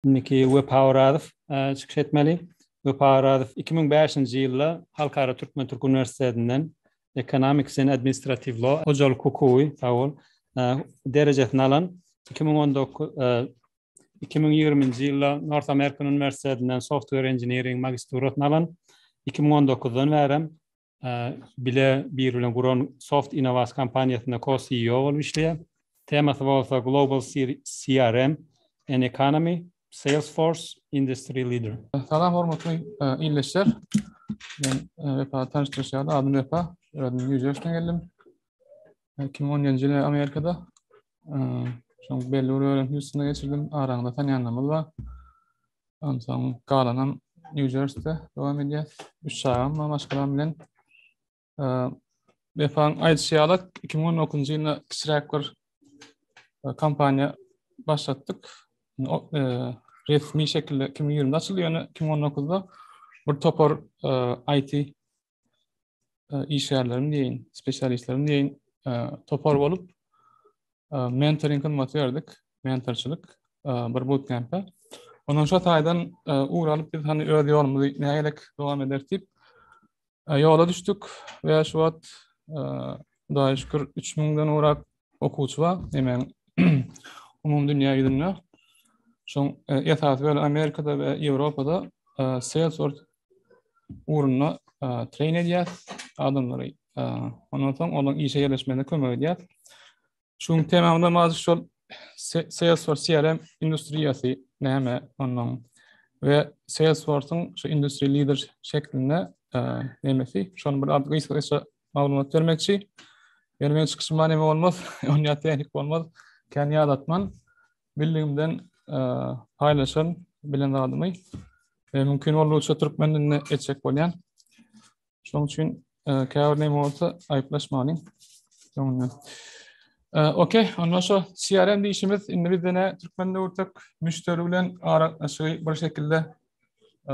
Indiki Wepa Orazow çykyş etmeli. Wepa Orazow iki müň bäşinji ýylda Halkara Türkmen-Türk Uniwersitetinden Economics and Administrative Law, Hojalyk hukugy, sag bol, derejesini alan. Iki müň on dokuz, iki müň ýigriminji ýylda North American Uniwersitetinden Software Engineering magisturasyny alan. Iki müň on dokuzdan bärem bile biri bilen guran Soft Innovas kompaniýasynda co-CEO bolup işleýär. Temasy bolsa Global CRM and Economy, Salesforce, Industry Leader. Salam hormatly ildeşler. Men Wepany tanyşdyryş ýaly, adym Wepa. Özüm Nýu Jersiden geldim. Iki müň on ýedinji ýyl Amerikada şoň belli bir bölegini Hýustona geçirdim. Araňyzda tanaýanlarymyz bar. Ondan soň galanam New Jersey-de dowam edýär. Üç çagam bar maşgalam bilen. Wepaň aýdyşy ýaly, 2019-njy ýylda kiçiräk bir kompaniýa başlatdyk. Resmi şekilde 2020-de açyldy, ýöne 2019-da bir topar IT e, işgärleriň diýen, spesialistleriň diýen e, topar bolup e, mentoring hyzmaty berdik, mentorçylyk bir bootcamp-e. Ondan şu taýdan ugur alyp biz hani öz ýolumyzy nägelik dowam ederis diýip ýola düşdük we şu wagt Hudaýa şükür 3000-den ugrap okuwçy bar. Hemen umumy dünýä ýüzünde şoň e, esasy bölegi Amerikada we Ýewropada e, Salesforce ugrunda e, treýn edýär adamlary. Ondan soň olaryň işe ýerleşmegine kömek edýär. Şu gün temamda mazur şol Salesforce CRM industriýasy näme ondan we Salesforce-yň şu industriýa lider şeklinde nämesi şonuň bir adyny gysgaça maglumat bermekçi. Ýöne men çykyşym many bolmaz, onýa tehnik bolmaz. Kän ýad atman, bildigimden paýlaşan bilen zadymy. E, mümkin boldugyça türkmen dilinde etjek bolýan. Şonuň üçin e, käbir näme bolsa aýyplaşmany. Öňünden. E, okey, onda şu CRM diýişimiz indi bizde ne türkmen döwürtek müşteri bilen aralaşygy bir şekilde e,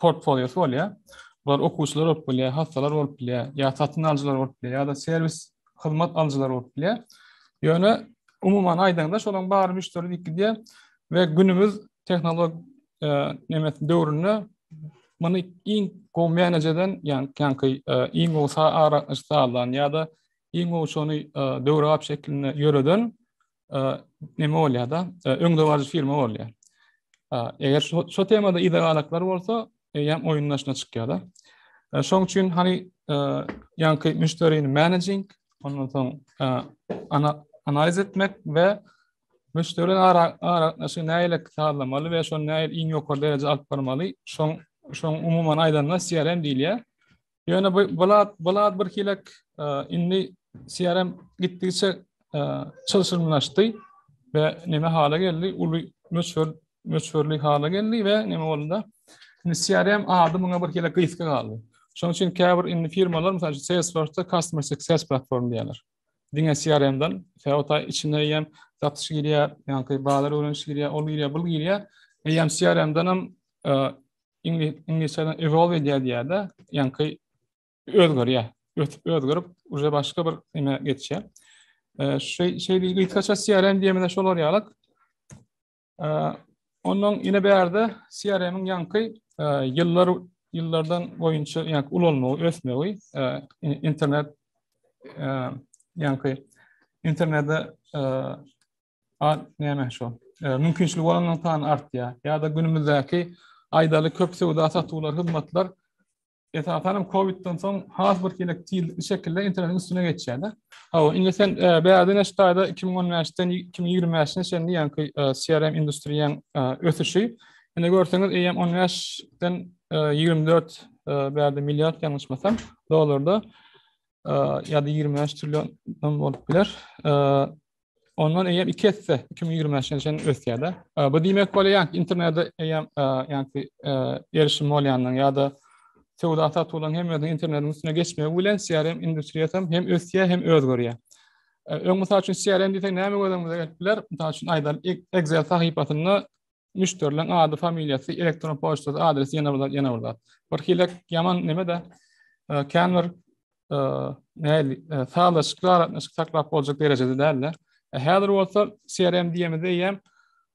portfoliosy bolýar. Bular okuwçylar bolup bilýär, hassalar bolup bilýär, ýa satyn alyjylar bolup bilýär, ýa-da serwis hyzmat alyjylar bolup bilýär. Ýöne umuman aýdaňda şolaryň bary müşderi diýip gidýär we günümiz tehnolog e, döwründe muny iň gowy manage eden, ýagny ýaňky e, iň gowy sagaşdyrylan ýa-da iň gowy şony e, döwrebap şekilde ýöreden näme bolýar-da, öňdebaryjy firma bolýar. Eger şu temada yza galaklar bolsa, eýýäm oýun daşyna çykýar-da. Şoň üçin hany ýaňky müşderini managing, ondan soň analiz etmek we müşderi ara aragatnaşygy näle sazlamaly we şony näle iň ýokary derejä alyp barmaly, şoň şoň umuman aýdanda CRM diýilýär. Ýöne bu bulat bulat bir hilek indi CRM gitdigiçe çylşyrymlaşdy we näme hala geldi? Uly möçber möçberli hala geldi we näme bolanda? Indi CRM ady muňa bir hilek gysga galdy. Şonuň üçin käbir indi firmalar, mysal üçin Salesforce-da Customer Success platform diýýärler. Diňe CRM-den, sebata içine hem satyş girýär, ýa-da bazar öwreniş girýär, ol girýär, bul girýär. Hem CRM-den hem Iňlisçeden evolve edýär diýýärde, ýaňky özgerýär. Ösüp özgerip, uje başga bir näme geçýär. Şeý şeý gysgaça CRM diýmede şolar ýaly. Ondan ine bärde CRM-iň ýaňky ýyllar ýyllardan boýunça ýaňky ulanmagy, ösmegi, internet ýaňky internetde A, näme şo? E, mümkinçiligi bolanlaryň sany artýar. Ýa-da günümizdäki aýdaly köp söwda satuwlar, hyzmatlar esasan hem Covidden soň has bir hili tiz şekilde internetiň üstüne geçýärdi. Hawa, indi sen e, bäde näçe taýda 2015-den 2025-e çenli ýaňky e, CRM industriýaň e, ösüşi. Indi görseňiz, eýýäm 15-den 24 bäde milliard ýalňyşmasam dollarda ýa-da 25 trillion bolup biler. Ondan eýýäm iki esse 2025 ýylyna çenli ösýär-de. Bu diýmek bolýar, internete eýýäm ýagny erişim bolýandan ýa-da söwda satuwlaryň hemmesiniň internetiň üstüne geçmegi bilen CRM industriýasy hem ösýär, hem özgerýär. Öň mysal üçin CRM diýsek näme gözüňize gelip biler? Mysal üçin aýdaly Excel sahypasynda müşderileň ady, familiýasy, elektron poçtasy, adresi ýene bir zat, ýene bir zat. Bir hile ýaman neme-de e, kän bir e, näli e, sazlaşykly aragatnaşyk saklap boljak derejede däldi. Häzir bolsa CRM diýemizde hem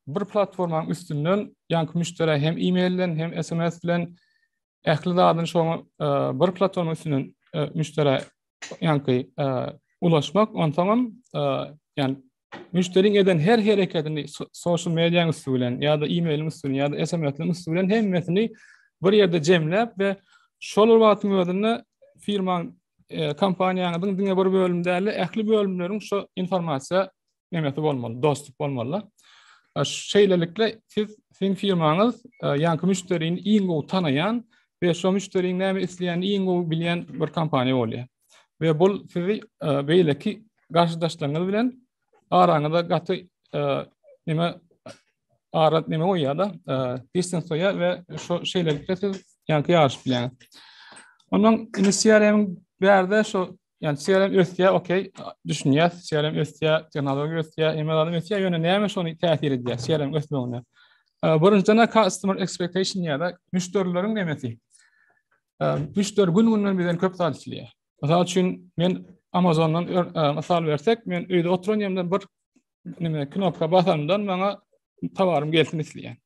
bir platformanyň üstünden ýanky müşderä hem e-mail bilen hem SMS bilen ähli zadyny şoňa bir platforma üstünden müşderä ýaňky ulaşmak, onsoňam ýan müşderiň eden her hereketini social media üsti bilen ýa-da e-mailiň üsti bilen ýa-da SMS-iň üsti bilen hemmesini bir ýerde jemläp we şol wagtyň özünde firmaň kompaniýanyň diňe bir bölümde däl, ähli bölümleriň şu informasiýa nemesi bolmaly, dostup bolmaly. Şeýlelikle siz siziň firmaňyz ýaňky müşderini iň gowy tanaýan we şo müşderiniň näme isleýänini iň gowy bilýän bir kompaniýa bolýar. We bu sizi beýleki garşydaşlaryňyz bilen araňyza gaty näme arat näme goýýar da, distans goýýar we şo şeýlelikle siz ýaňky ýaryşyp bilýäňiz. Ondan inisiýaryň bärde şo Yani CRM ösýär, okey, düşünýär, CRM ösýär, tehnologiýa ösýär, email adam ösýär, ýöne näme şony täsir edýär CRM ösmegine? Birinjiden customer expectation ýa-da müşderileriň nemesi. Müşderi gün-günden bizden köp zat isleýär. Mysal üçin, men Amazondan mysal bersek, men öýde oturan ýerimden bir neme knopka basanymdan maňa towarym gelsin isleýän.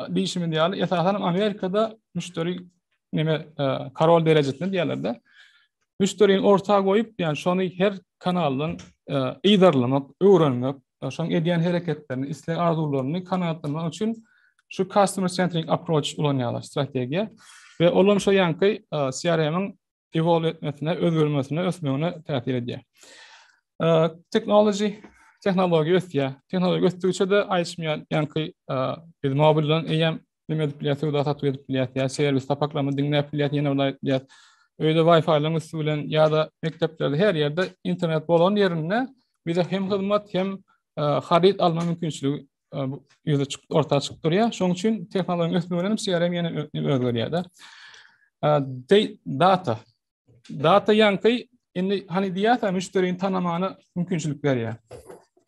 diýişimiz ýaly, esasanam Amerikada müşderi neme karol derejesinde diýerlerde. Müşderini orta goýup, ýani şony her kanaldan yzarlamak, öwrenmek, şoň edýän hereketlerini, isleg arzuwlaryny kanagatlanmak üçin şu customer centric approach ulanýarlar, strategiýa. Ve olam şu yankı CRM-in evolve etmesine, özgermesine, ösmegine täsir edýär. Technology tehnologiýa ösýär. Tehnologiýa ösdügiçe de aýşmaýan, ýaňky biz mobil bilen eýýäm nime edip bilýäs, söwda satuw edip bilýäs, ýa serwis sapaklama diňläp bilýäs, ýene bir bilýäs. Öýde Wi-Fi-laryň üsti bilen ýa-da mekdeplerde her ýerde internet bolan ýerinde bize hem hyzmat, hem haryt alma mümkinçiligi ýüze çykyp orta çykyp durýar. Şonuň üçin tehnologiýanyň ösmegi bilen CRM ýene özgerýär da. Data. Data ýaňky indi hani diýýärse müşderini tanamana mümkinçilik berýär.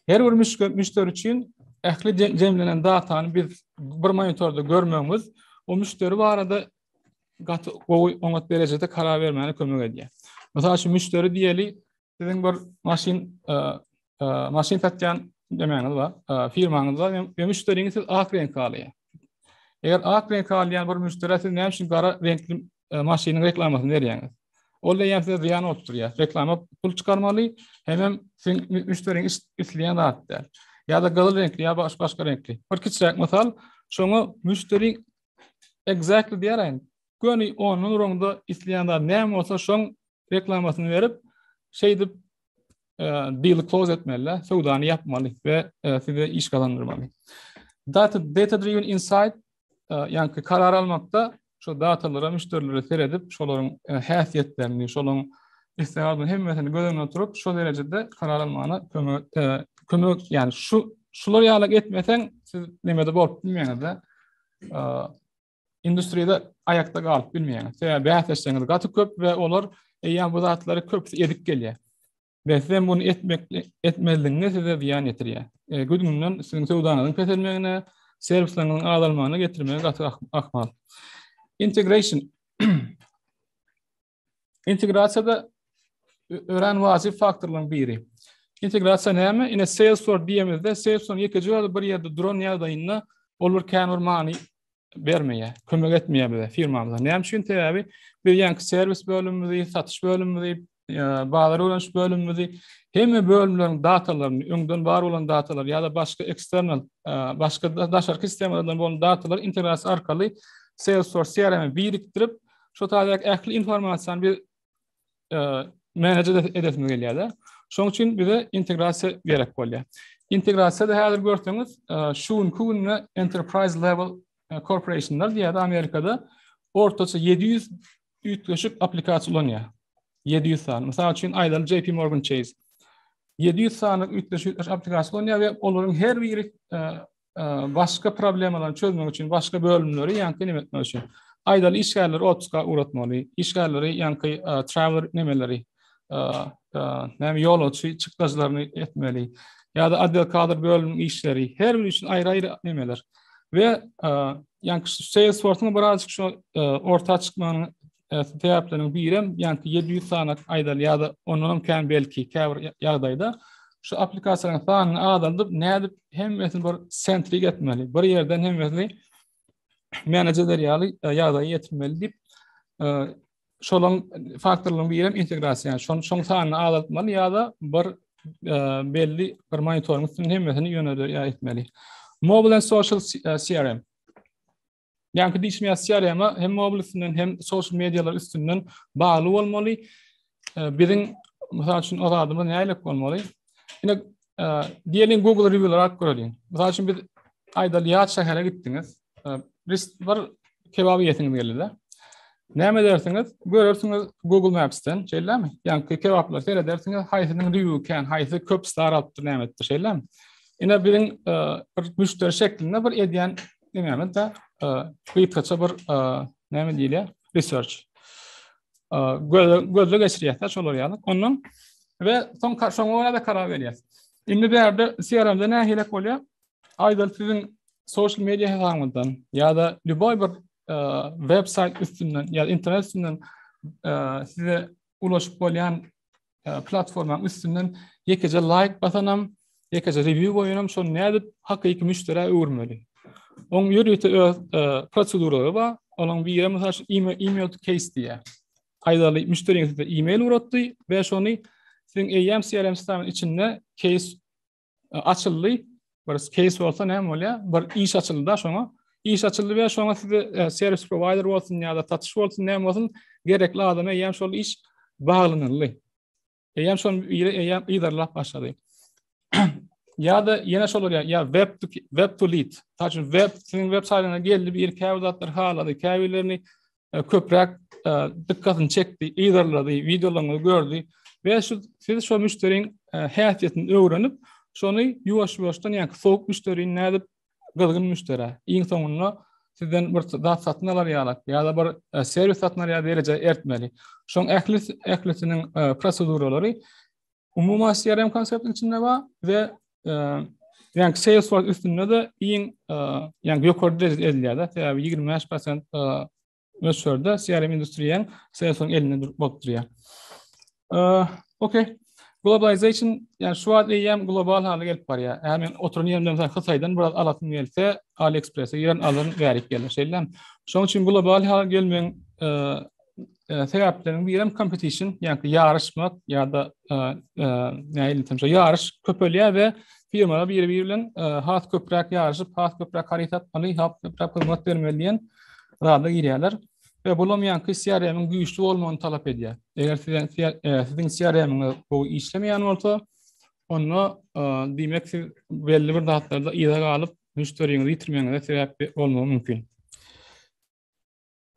Her bir müşderi üçin ähli jemlenen datany biz bir monitorda görmegimiz o müşderi barada gaty gowy oňat derejede karar bermäne kömek edýär. Mysal üçin müşderi diýeli Siziň bir maşyn maşyn satýan demäňiz bar. Firmaňyz bar we müşderiňiz siz ak reňk alýar. Eger ak reňk alýan bir müşderi siz näme üçin gara reňkli e, maşynyň reklamasyny berýäňiz? Ol da ýa size zyýan bolup durýar. Reklama pul çykarmaly, hemem siz müşderiň isleýän zat däl. Ýa-da gyzyl reňkli ýa başga başga reňkli. Bir kiçiräk mysal, şoňa müşderi exactly diýärin. Göni onuň röňde isleýän zat näme bolsa şoň reklamasyny berip, şeýdip e, deal close etmeli, söwdany ýapmaly we e, size iş gazandyrmaly. Data data driven insight e, ýa-da karar almakda şu datalara müşderilere seredip, şolaryň häsiýetlerini, şolaryň isleýän hemmesini göz öňünde tutup, şu derejede karar almagyna kömek kömek, ýagny şu şular ýaly etmeseň, siz nämede bolup bilmeýäňiz-de. Industriýada aýakda galyp bilmeýäňiz. Sebäbi bäsleşigiňiz gaty köp we olar eýýäm bu zatlary köpüsi edip gelýär. Ve siz hem bunu etmekli, etmezligiňiz size ziyan getirýär. E, Güdüňden sizin söwdanyzyň peselmegine, servisleriňiziň azalmagyna getirmegi gaty ahmal. Integration. Integrasiýada örän wajyp faktorlaryň biri. Integrasiýa näme? Ine Salesforce diýemizde, Salesforce ýekeje ýerde bir ýerde duran ýagdaýynda ol bir kän bir many bermeýär, kömek etmeýär bize firmamyza. Näme üçin? Sebäbi biz ýanki serwis bölümimizi, satyş bölümimizi, bazar öwreniş bölümimizi hemme bölümleriň datalaryny, öňden bar bolan datalary ýa-da başga eksternal, başga daşarky sistemalardan bolan datalary integrasiýa arkaly Salesforce CRM-e birikdirip, Şu taýdak ähli informasiýany biz e, menejer edesimiz gelýär-de. Şoň üçin bize integrasiýa gerek bolýar. Integrasiýada häzir görseňiz, e, şu günki günde enterprise level e, corporationlar diýýär Amerikada ortaça 700 üýtgeşik applikasiýa ulanýar. 700 sany. Mysal üçin aýdaly JP Morgan Chase 700 sany üýtgeşik applikasiýa ulanýar we olaryň her biri e, başga problemalary çözmek üçin başga bölümleri ýa-da näme etmek üçin. Aýdaly işgärleri otpuska ugratmaly, işgärleri ýa-da e, travel nemeleri, e, e, näme ýolagçy çykdajylaryny etmeli ýa-da adwokatlar bölüminiň işleri, her biri üçin aýry-aýry nemeler. We ýa-da Salesforce-yň birazajyk şu orta çykmagyny e, sebäpleriň birem ýanki 700 sany aýdaly ýa-da ondan hem kän belki käbir ýagdaýda şu applikasiýalaryň sanyny azaldyp nädip hemmesini bir sentrik etmeli bir ýerden hemmesini menejerler ýaly e, ýagdaýa ýetirmeli diýip e, şolaň faktorlaryň biri hem integrasiýa ýa şoň şoň sanyny azaltmaly ýa-da bir e, belli bir monitoring üstünde hemmesini ýöne ýa etmeli mobile social crm Ýaňky diýşim ýa sýar ýaňa hem mobil üstünden hem social mediýalar üstünden bagly bolmaly. Biziň mysal üçin o zadymyz nälik bolmaly? Ine diýeliň Google rewiewler alyp göreliň. Mysal üçin biz aýdaly ýat şähere gitdiňiz. Bir kebap ýesiňiz geldi-de. Näme edersiňiz? Görersiňiz Google Maps-den, şeýlemi? Ýaňky kebaplar seredersiňiz, haýsynyň review kän, haýsy köp star alypdyr, näme etdi, şeýlemi? Ine biziň bir müşderi şeklinde bir edýän Diňemizde gysgaça bir näme diýilýär? Research. Gözle geçirýärsiz şolar ýaly. Ondan we soň şoňa görä de karar berýär. Indi bu ýerde CRM-de nähilek bolýar? Aýdyl siziň social media hesabyňyzdan ýa-da lýuboý bir web-saýt üstünden ýa-da internet üstünden size ulaşyp bolýan e, platformanyň üstünden ýekeje laýk basanam, ýekeje rewýu goýanam şony nädip hakyky müşderä öwürmeli? Oň ýörite öz e, proseduralary bar. Onuň biri mysal üçin email, email to case diýýär. Aýdaly müşderiň size email uratdy we şony siziň AMCRM CRM sisteminiň içinde case açyldy. Bir case bolsa näme bolýar? Bir iş açyldy-da şoňa. Iş açyldy we şoňa size e, servis provider bolsun ýa-da satyş bolsun, näme bolsun, gerekli adama eýýäm şol iş baglanyldy. Eýýäm şol ýere eýýäm yzarlap başlady. ýa-da ýene şolar ýa ýa web to web to lead. Taşyn web siziň web saýtyňyza geldi, bir käbir zatlar halady, käbirlerini e, köpräk e, dykkatyny çekdi, yzarlady, wideolaryňyzy gördi we şu siz şo müşderiň e, häsiýetini öwrenip, şony ýuwaş-ýuwaşdan ýa-da sowuk müşderi nädip gyzgyn müşderi. Iň soňunda sizden bir zat satyn alar ýaly ýa-da bir e, serwis satyn alar ýaly dereje ertmeli. Şoň ähli ählisiniň e, proseduralary Umuman CRM konseptiniň içinde bar we Yani Salesforce üstünde de iň yani ýokary derejede edilýär-de. Sebäbi 25% möçberde CRM industriýanyň Salesforce elinde bolup durýar. Okey. Globalization yani şu wagt eýýäm global hala gelip barýar. Eger men oturan ýerimden mesela Hytaýdan biraz alasym gelse, AliExpress-e giren alyryn, bärik gelir. Şeýle. Şonuň üçin global hala gelmegiň e, sebäpleriniň biri hem competition, ýagny ýaryşmak ýa-da e, e, näýli temşe ýaryş köpelýär we firmalar biri-biri bilen has köpräk ýaryşyp, has köpräk haryt satmaly, has köpräk hyzmat bermeli diýen zada girýärler. We bu hem ýanky CRM-iň güýçli bolmagyny talap edýär. Eger siziň siziň CRM-iňiz bu işlemeýän bolsa, onda diýmek siz belli bir zatlarda ýa galyp, müşteriňizi ýitirmegiňize sebäp bolmagy mümkin.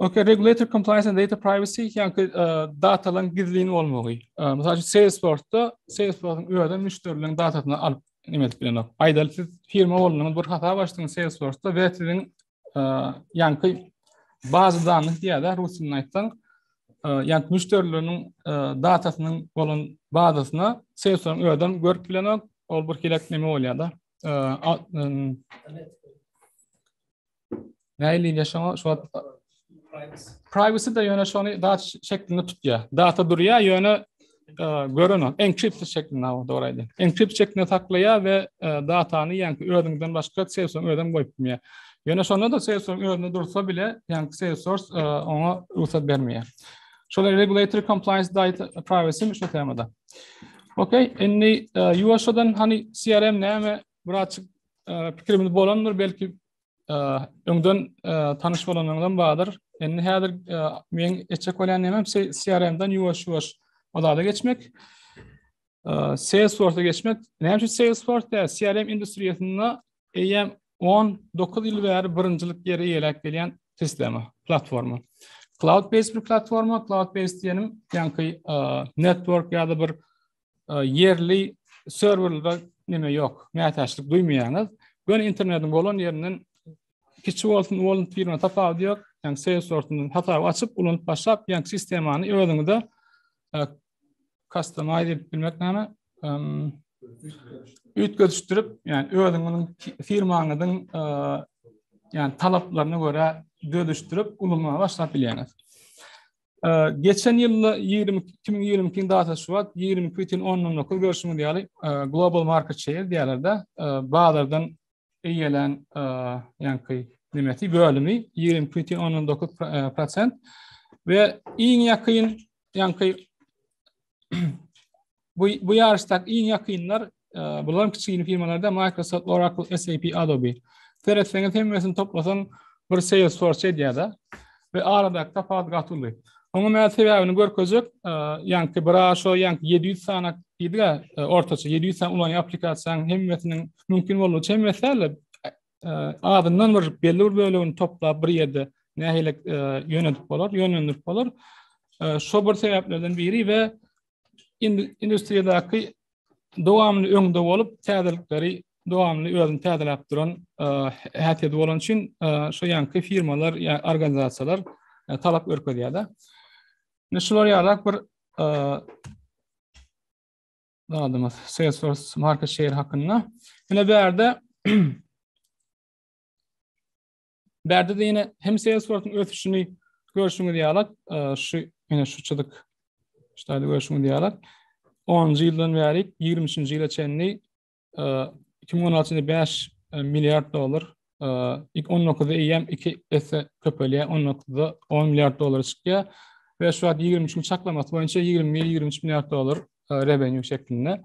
Okay, regulatory compliance and data privacy ýa-da e, datalaryň gizlin bolmagy. E, Mysal üçin Salesforce-da Salesforce-yň öýünden müşderileriň datasyny alyp näme edip bilenok. Aýdaly siz firma bolanyňyz bir hasap açdyňyz Salesforce-da we siziň e, ýanky bazy danlyk diýýär-de rusçasy aýtsaň, e, ýanky müşderileriniň e, datasynyň bolan bazasyna Salesforce-yň öýünden görüp bilenok. Ol bir hilek näme bolýar-da. E, Nähiliýine şoňa şu wagt privacy da ýöne şony dat şeklinde tutýar. Data durýar ýöne e, gören o encrypted şeklinde o dogry aýdýar. Encrypt şeklinde saklaýar we e, datany ýaňky özüňden başga Salesforce özem goýup bilmeýär. Ýöne şonda da Salesforce özünde dursa bile ýaňky Salesforce e, oňa rugsat bermeýär. Şolar regulatory compliance data privacy şu temada. Okey, indi ýuwaşdan hani CRM näme Bir açyk pikirimiz bolandyr, belki öňden tanyş bolanlardan bardyr. Indi häzir men etjek bolýan näme CRM-den ýuwaş-ýuwaş ozada geçmek. Salesforce-a geçmek. Näme üçin Salesforce tä CRM industriýasynda eýýäm 19 ýyl bäri birinjilik ýeri eýeläp gelýän sistema, platforma. Cloud-based bir platforma, cloud-based diýenim, ýaňky network ýa-da bir ýerli serwerlerde näme ýok, mätäçlik duýmaýaňyz. Göni internetiň bolan ýerinden kiçi bolsun, uly bolsun firma tapawudy ýok. Ýani Salesforce-dan hasap açyp, ulanyp başlap, ýani sistemany özüňize customize edip bilmek näme? Üýtgedişdirip, ýani özüňiziň firmaňyzyň ýani talaplaryna görä dödüşdirip, ulanyp başlap bilýäňiz. Geçen ýylda 20 2022-nji data Şubat 22 bitin ondan dokuz görşüňiz ýaly global market share diýýärlerde bazardan eýelen ýaňky nimesi bölümi 22 bitin ondan dokuz prosent we iň ýakyn ýaňky bu bu ýaryşdaky iň ýakynlar e, bular kiçigini firmalarda Microsoft, Oracle, SAP, Adobe. Seretseňiz hemmesini toplasaň bir Salesforce edýär-de we aradaky tapawut gaty uly. Oňa men sebäbini görkezjek, e, ýaňky bir aşo ýaňky 700 sany diýdiga e, ortaça 700 sany ulan applikasiýanyň hemmesiniň mümkin bolmagy hemmesi däl, azyndan bir belli bir bölegini toplap bir ýerde nähili ýönedip bolar, ýönlendirip bolar. Şo bir sebäplerden biri we industriýadaky dowamly öňde bolup, täzelikleri dowamly özüni täzeläp duran häsiýeti bolan üçin şo ýanky firmalar ýa organizasiýalar talap görkezýärler. Şular ýalak bir zadymyz Salesforce market share hakynda. Ine bärde bärde de ýene hem Salesforce-yň ösüşini görşüňiz ýaly, e, şu ýene şu çyzyk şeýle görşüňiz ýaly. 10-njy ýyldan bäri 23-nji ýyla çenli 2016-njy e, 5 e, milliard dollar ilk 19-da eýýäm iki esse köpelýär, 19-da 10 milliard dollara çykýar we şu wagt 23-nji çaklamasy boýunça 21-23 milliard dollar revenue şeklinde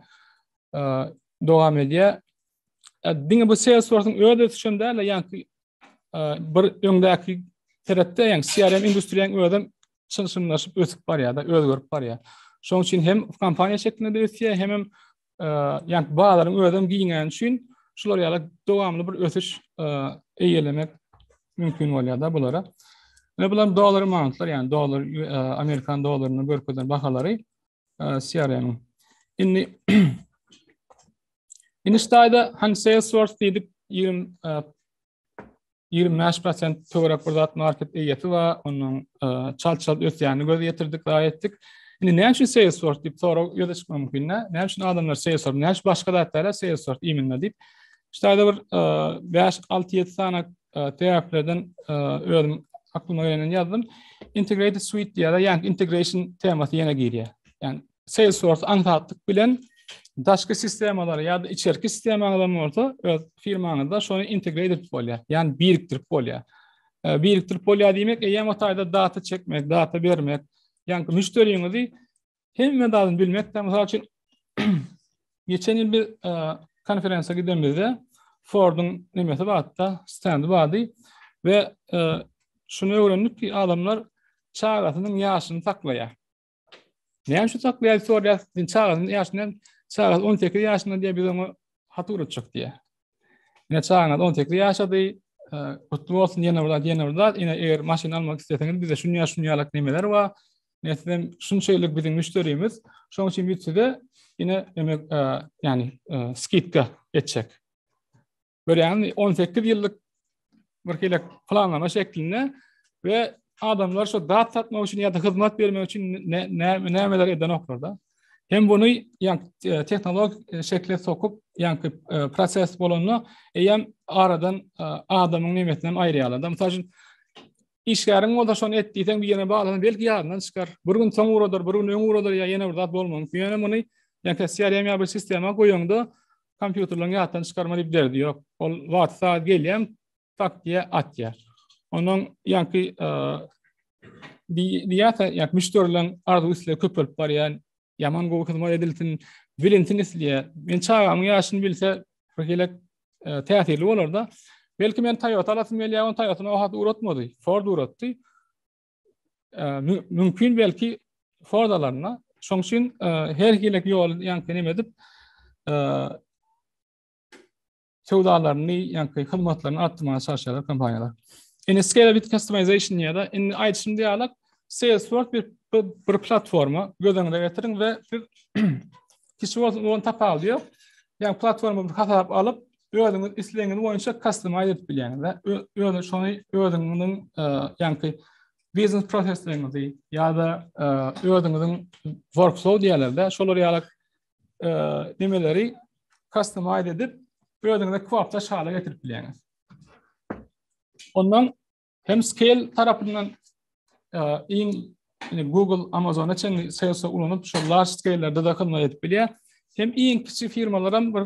dowam edýär. Diňe bu Salesforce-yň öz ösüşen däl, ýa-ni bir öňdäki seretde, ýa-ni CRM industriýanyň özem çylşyrymlaşyp ösüp barýar-da, özgerip barýar. Şonuň üçin hem kompaniýa şeklinde ösýär, hem-hem ýa-da bazaryň özem giňäni üçin şular ýaly dowamly bir ösüş eýelemek mümkin bolýar-da bulara. Ine bular dollar amountlar, ýagny dollar amerikan dollaryny görkezen bahalary CRM. Indi Indi ştaýda han Salesforce diýdik 20 ýigrimi bäş prosent töwerek bir zat market eýesi we onuň e, çalt-çalt ösýänini göz ýetirdik, raý etdik. Indi näme üçin Salesforce diýip sorag ýöne çykmagy mümkin. Näme üçin adamlar Salesforce, näme üçin başga zatlara Salesforce iýminde diýip. Şeýle aýda bir 5-6-7 e, sany e, sebäplerden özüm aklyma geleni ýazdym. Integrated suite diýýär, ýa integration temasy ýene girýär. Ýani Salesforce aňsatlyk bilen daşky sistemalary ýa-da içerki sistemaňyzam bolsa öz firmaňyzda şony integre edip bolýar. Ýani birikdirip bolýar. E, birikdirip bolýar diýmek, eýýäm o taýda data çekmek, data bermek, ýani müşderiňizi hemme zadyny bilmek, mysal üçin geçen ýyl bir e, konferensiýa gidemizde Fordun nemesi bardy, stendi bardy we e, şunu öwrendik ki, adamlar çagasynyň ýaşyny saklaýar. Näme şu saklaýar sorýar, sen çagaň ýaşyna, çaga 18 ýaşynda diýip biz oňa hat urutjak diýär. Ine çagaňyz 18 ýaşady, e, gutly bolsun ýene bir zat, ýene bir zat. Ine eger maşyn almak isleseňiz bize şuny ýaş şuny ýalak nemeler bar. Ine siz hem şunçaýlyk biziň müşderimiz. Şoň üçin biz size ine emek e, ýani e, skidka etjek. Görýäňmi, 18 ýyllyk bir hile planlama şeklinde we adamlar şu zat satmak üçin ýa-da hyzmat bermek üçin nämeler edenoklar da. Hem bunu ýa e, tehnologik e, şekle sokup, ýa-da e, proses bolanda eýem aradan adamyň nimetini hem aýyrýarlar. Mysal üçin işgäriň bolsa şony et diýseň bir ýere baglanan belki ýadyndan çykar. Bir gün soň uradyr, bir gün öň uradyr ýa ýene bir zat bolmagyň. Ýöne muny ýa-da CRM ýa bir sistema goýanda kompýuterleň ýatdan çykarma diýip derdi ýok. Ol wagt saat gelýän tak diýe atýar. Onuň ýanky diýýärse, ýa müşderileň arzuw isle köp bolup barýan, ýaman gowy hyzmat edilsin, bilinsin isleýär. Men çagamyň ýaşyny bilse, bir gelek täsirli bolarda. Belki men Toyota alasym gelýär, on Toyota-ny o hat uratmady, Ford uratdy. mümkin belki fordalaryna. Şoň üçin her hilek ýol ýaňky neme edip söwdalaryny ýaňky hyzmatlaryny artdyrmaga çalyşýarlar kompaniýalar. Indi scalability customization ýa-da indi aýdyşym diýýärler, Salesforce bir, bir platforma göz öňüne getiriň we siz kişi bolsun, tapawudy ýok. Ýa platforma bir hasap alyp, özüňiz islegiňiz boýunça customize edip bilýäňiz we öňe şony özüňiziň e, ýaňky biznes prosesleriňizi ýa-da e, özüňiziň workflow diýerlerde şolar ýaly e, nimeleri customize edip özüňize kwapda şala getirip bilýäňiz. Ondan Hem scale tarapyndan e, iň yani Google, Amazon'a çenli sales'e ulanyp şu large scale'lerde de hyzmat edip bilýär. Hem iň kiçi firmalar hem bir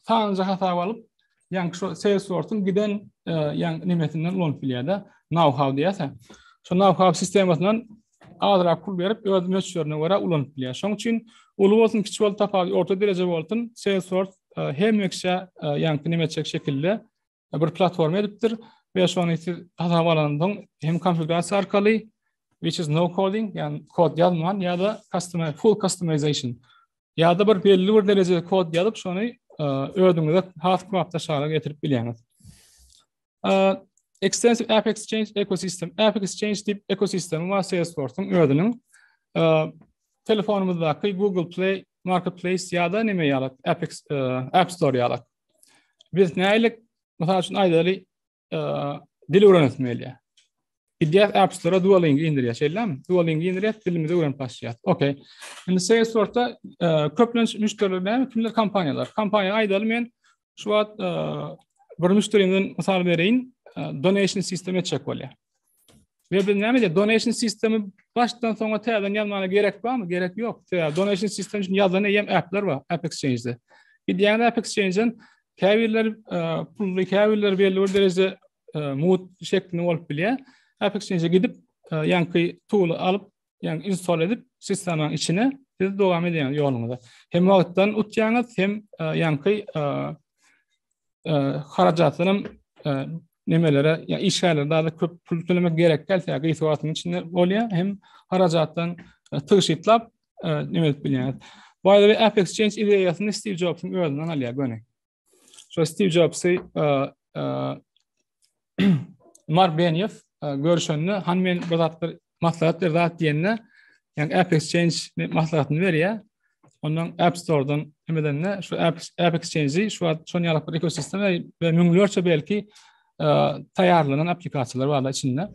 sanjy hasap alyp, yani şu Salesforce'un giden e, yani nimesinden ulanyp bilýär de, know-how diýerse. Şu know-how sistemasyndan azrak pul berip öz möçberine göre ulanyp bilýär. Şoň üçin uly bolsun, kiçi bolsun tapawut, orta dereje bolsun, Salesforce e, hemme kişä e, yani nime etjek şekilde bir platforma edipdir we şony siz hasap alandan hem konfigurasiýa arkaly which is no coding yani kod yazman ya da customer full customization ya da bir belli bir derejede kod yazıp şonu e, özüňize has köp daşara getirip bilýäňiz. E, extensive App Exchange ekosistem. App Exchange dip ekosistemi var Salesforce'un özünün e, telefonumuzdaky Google Play Marketplace ya da neme yalat App, App Store yalat. Biz nälik, mysal üçin aýdaly, e, dil öwrenesim gelýär. Gidýär App Store-a Duolingo indirýär, şeýlemi? Duolingo indirýär, dilimizi öwrenip başlaýar. Okey. Indi Salesforce-da e, köplenç müşderiler näme? Kimler kompaniýalar? Kompaniýa aýdaly men şu wagt e, bir müşderimden mysal bereýin, e, donation sistem etjek bolýar. Ve biz näme diýýär? Donation sistemi başdan soňa täzeden ýazmana gerek barmy? Gerek ýok. Sebäbi donation sistemi üçin ýazan eýýäm applar bar App Exchange-de. Gidýän App Exchange-den käbirler e, pully, käbirler belli bir derejede e, mut şeklinde bolup bilýär. App Exchange-e gidip e, ýaňky tool alyp Yani install edip sistemanyň içine siz dowam edýäňiz ýoluňyza. Hem wagtdan utýaňyz, hem e, ýaňky e, e, harajatdan hem nemelere, yani işgärlere daha da köp pul tölemek gerek gelse, yani gıysi vaatının içinde oluyor, hem haracattan tığşitlap neme edip bilýäňiz. By the way, App Exchange ideýasyny Steve Jobs'un özünden alýar göni. Şo Steve Jobsy Mark Benioff görüşende han men bir zatlar maslahat bir zat diýende ýa-ni App Exchange maslahatyny berýär. Ondan App Store-dan hemedende şu App App Exchange-i şu wagt şon ýaly bir ekosistema we müňlerçe belki taýýarlanan applikasiýalar bar içinde.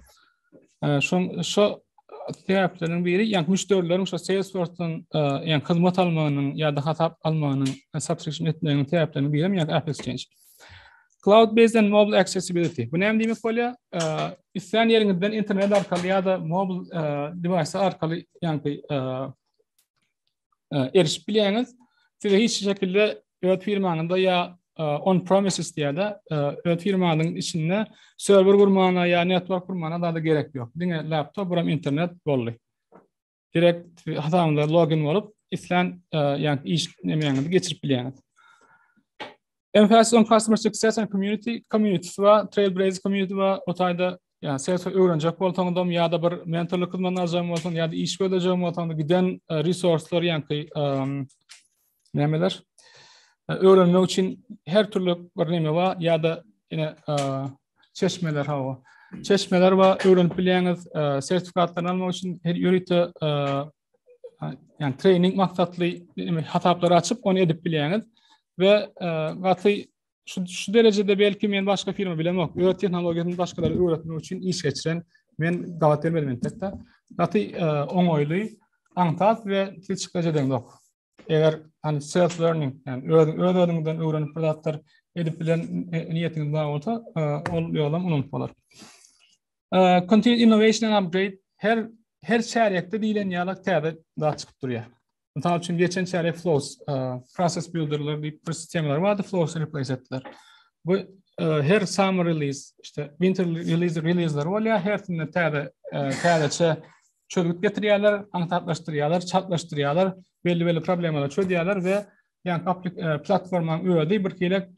Şoň şo sebäpleriň biri, ýa müşderileriň şo Salesforce-dan ýa hyzmat almagynyň ýa-da hasap almagynyň subscription etmegiň sebäpleriniň biri ýa-da App Exchange. Cloud based and mobile accessibility. Bu näme diýmek bolýar? Isleýän ýeriňizden internet arkaly ýa-da mobil device arkaly, ýa-da erişip bilýäňiz. Size hiç şekilde öz firmaňyzda ýa on premises diýýärde, öz firmanyň içinde serwer gurmana ýa network gurmana zada gerek ýok. Diňe laptop buram internet boldy. Direkt hasabyňyza login bolup, islän ýa iş nemäňizi geçirip bilýäňiz. Emphasis on customer success and community community we trailblazer community we otayda yani serse öwrenjek bolsaňyzam ya da bir mentorlyk hyzmatyny aljaň bolsaň ya da iş gözlejeň bolsaň da giden e, resurslar ýaňky nämeler e, öwrenmek üçin her türlü bir näme bar ya da ine e, çeşmeler hawa çeşmeler bar öwrenip bilýäňiz sertifikatlaryny almak üçin her ýörite yani training maksatly hasaplary açyp onu edip bilýäňiz we e, gaty şu, şu derejede belki men başga firma bilen yok. Öz tehnologiýasyny başgalara öwretmek üçin iş geçiren men gabat gelmedim entekde. Gaty e, oňaýly, aňsat we hiç gajedeň yok. eger hani self learning yani öz öz özüňden öwrenip bir zatlar edip bilen niýetiňiz bar bolsa ol ýolam unup bolar. Continuous innovation and upgrade her her çärýekde diýlen ýaly täze zat çykyp durýar. Mysal üçin geçen çärýek flows process builderler diýip bir sistemalar bardy, flows replace etdiler. Bu her summer release işte winter release release'ler bolýar, hersinde täze täzeçe çözgüt getirýärler, aňsatlaşdyrýarlar, çaltlaşdyrýarlar, belli-belli problemalary çözýärler we ýa e, platformanyň özi bir hili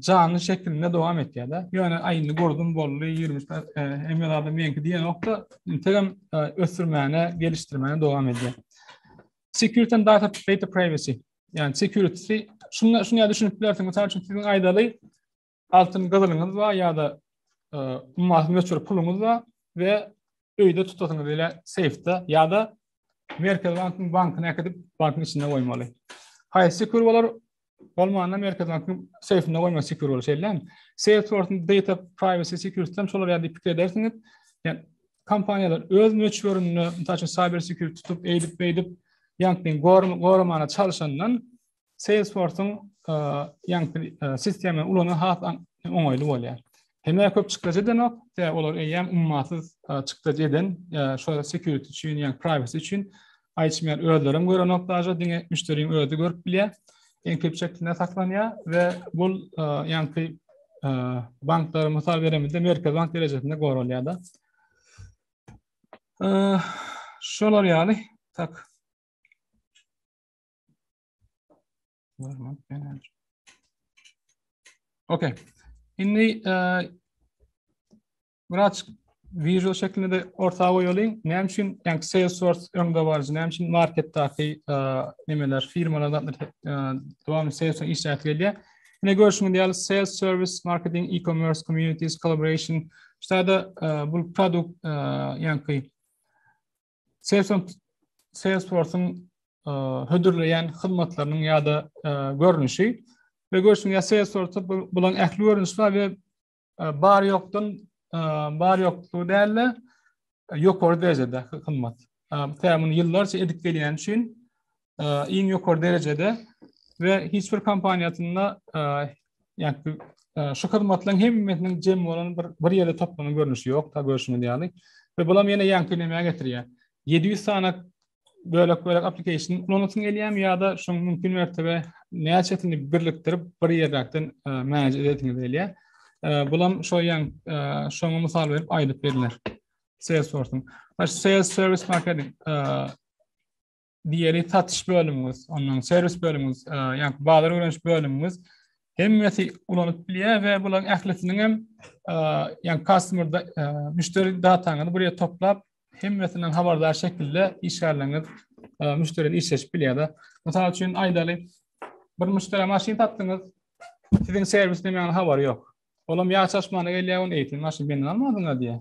janly şekilinde dowam etýär-de. Ýöne aýyny gördüm boldy, 20 e, hem ýa-da meňki diýen nokta, integem e, ösdürmäne, gelişdirmäne dowam edýär. Security and data, data privacy. Yani security, şuna, şuna düşünüp bilersin. Mesela çünkü sizin aydalı Altyn gyzylyňyz bar ýa-da ummasyz möçber puluňyz bar we öýde tutasyňyz ile seýfde ýa-da Merkez bankyň bankyna äkidip bankyň içinde goýmaly. Haýsy sekür bolar? Bolmanda Merkez bankyň seýfinde goýmak sekür bolar, şeýlemi? Seýf sortunda data privacy security-den çolar ýa-da pikir edersiňiz. Ýa kompaniýalar öz möçberinde, mysal üçin cyber security tutup, eýdip-beýdip, ýa-da gormana çalyşandan Salesforce-yň ýaňky sistemany ulanan has oňaýly bolýar. Hemä köp çykdajy edenok, sebäbi olar eýýäm ummasyz çykdajy eden, şol security üçin, ýa privacy üçin açmaýar, özleri hem görenok daşa, diňe müşderiň özi görüp bilýär. Enkripsiýa şeklinde saklanýar we bu ýaňky banklara mysal beremizde merkez bank derejesinde goralýar da. Şolar ýaly, tak. Okey. Indi e, biraz visual şeklinde de orta goýalyň. Näme üçin ýa Salesforce öňde barjy, näme üçin marketdäki e, nimeler, firmalar da e, dowamly Salesforce işläp gelýär. Ine görüşüň diýal sales service, marketing, e-commerce, communities, collaboration. Şeýle-de e, bu produkt e, ýa-da Salesforce-yň e, hödürleýän hyzmatlarynyň ýa-da e, görnüşi we görüşiň ýa Salesforce bulan ähli görnüşler we e, bar ýokdan bar ýoklugy däl-de ýokary derejede hyzmat. Tämin ýyllarça edip gelýän üçin iň ýokary derejede we hiç bir kompaniýasynda ýagny şu hyzmatlaryň hemmesiniň jem bolan bir bir ýerde toplanan görnüşi ýok, ta görşüňiz ýaly. We bulam ýene ýaňkynemäge getirýär. 700 sany bölek bölek application ulanasyn gelýärmi ýa-da şoň mümkin mertebe näçesini birlikdirip bir ýerden manage edesiňiz gelýär. Bulam şo ýaň şoňa mysal berip aýdyp berler. Salesforce-yň. Baş sales service marketing. Diýeli satyş bölümimiz, ondan serwis bölümimiz, e, ýa-da bazar öwreniş bölümimiz hemmesi ulanyp bilýär we bularyň ählisiniň hem e, ýa-da customer e, müşderi dataňyzy bir ýere toplap, hemmesinden habardar şekilde işgärleriňiz müşderi bilen işleşip bilýär. Mysal üçin aýdaly, bir müşderi maşyn satdyňyz, siziň serwis näme ýaly habary ýok. Olam ýa çaşmana gelýär, ony eýtin maşyn menden almadyňyz diýär.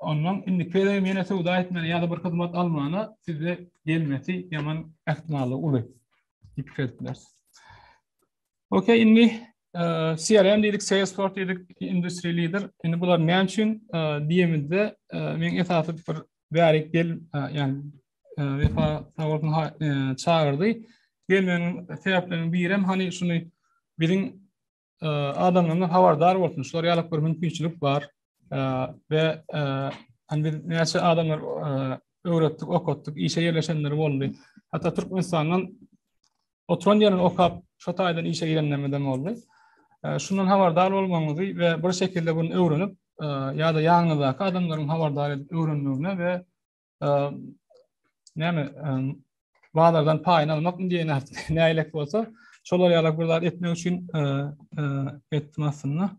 Ondan indiki gezegem ýene söwda etmäne ýa-da bir hyzmat almana size gelmesi ýaman ähtimallygy uly. Diýipdiler. Okey, indi e, CRM diýdik, Salesforce diýdik, industry leader. Indi bular näme üçin e, diýemizde e, men esasy bir bärik gel, ýany wefa sag bolsun çagyrdy. Gelmegiň sebäpleriniň biri hem hani şuny biziň adamlarymyz habardar bolsun, şular ýaly bir mümkinçilik bar we hani biz näçe adamlar öwretdik, okatdyk, işe ýerleşenleri boldy. Hatda Türkmenistandan oturan ýerini okap, şu taýdan işe girenlerimiz hem boldy. Şundan habardar bolmagyňyzy we bir şekilde bunu öwrenip, ýa-da ýanyňyzdaky adamlaryň habardar edip öwrenmegine we näme bazardan paýyny almakmy diýen nägilek bolsa şolar ýalak bir zat etmek üçin etdim aslynda.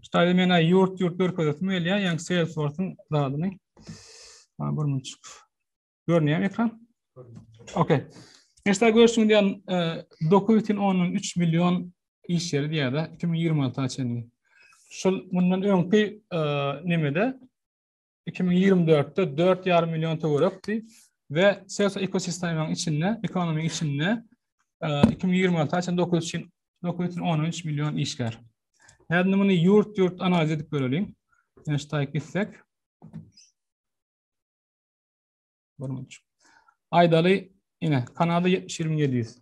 Ştaýda men aý ýurt ýurt görkezesim gelýär, ýaňy Salesforce-yň zadyny. Ha bir minut. Görünýär ekran? Okey. Eşda görüşüň diýen 9,3 million iş ýeri diýýär-de 2026-a çenli. Şol mundan öňki nemede iki ming ýigrimi dörtde dört ýarym million töwerekdi we Sewsa ekosistemanyň içinde, ekonomik içinde iki ming ýigrimi alty üçin dokuz üçin dokuz üçin on üç million işgär. Häzir muny ýurt-ýurt analiz edip göreliň. Neştaýyk gitsek. Görmüş. Aýdaly, ine, Kanada 70 20 700.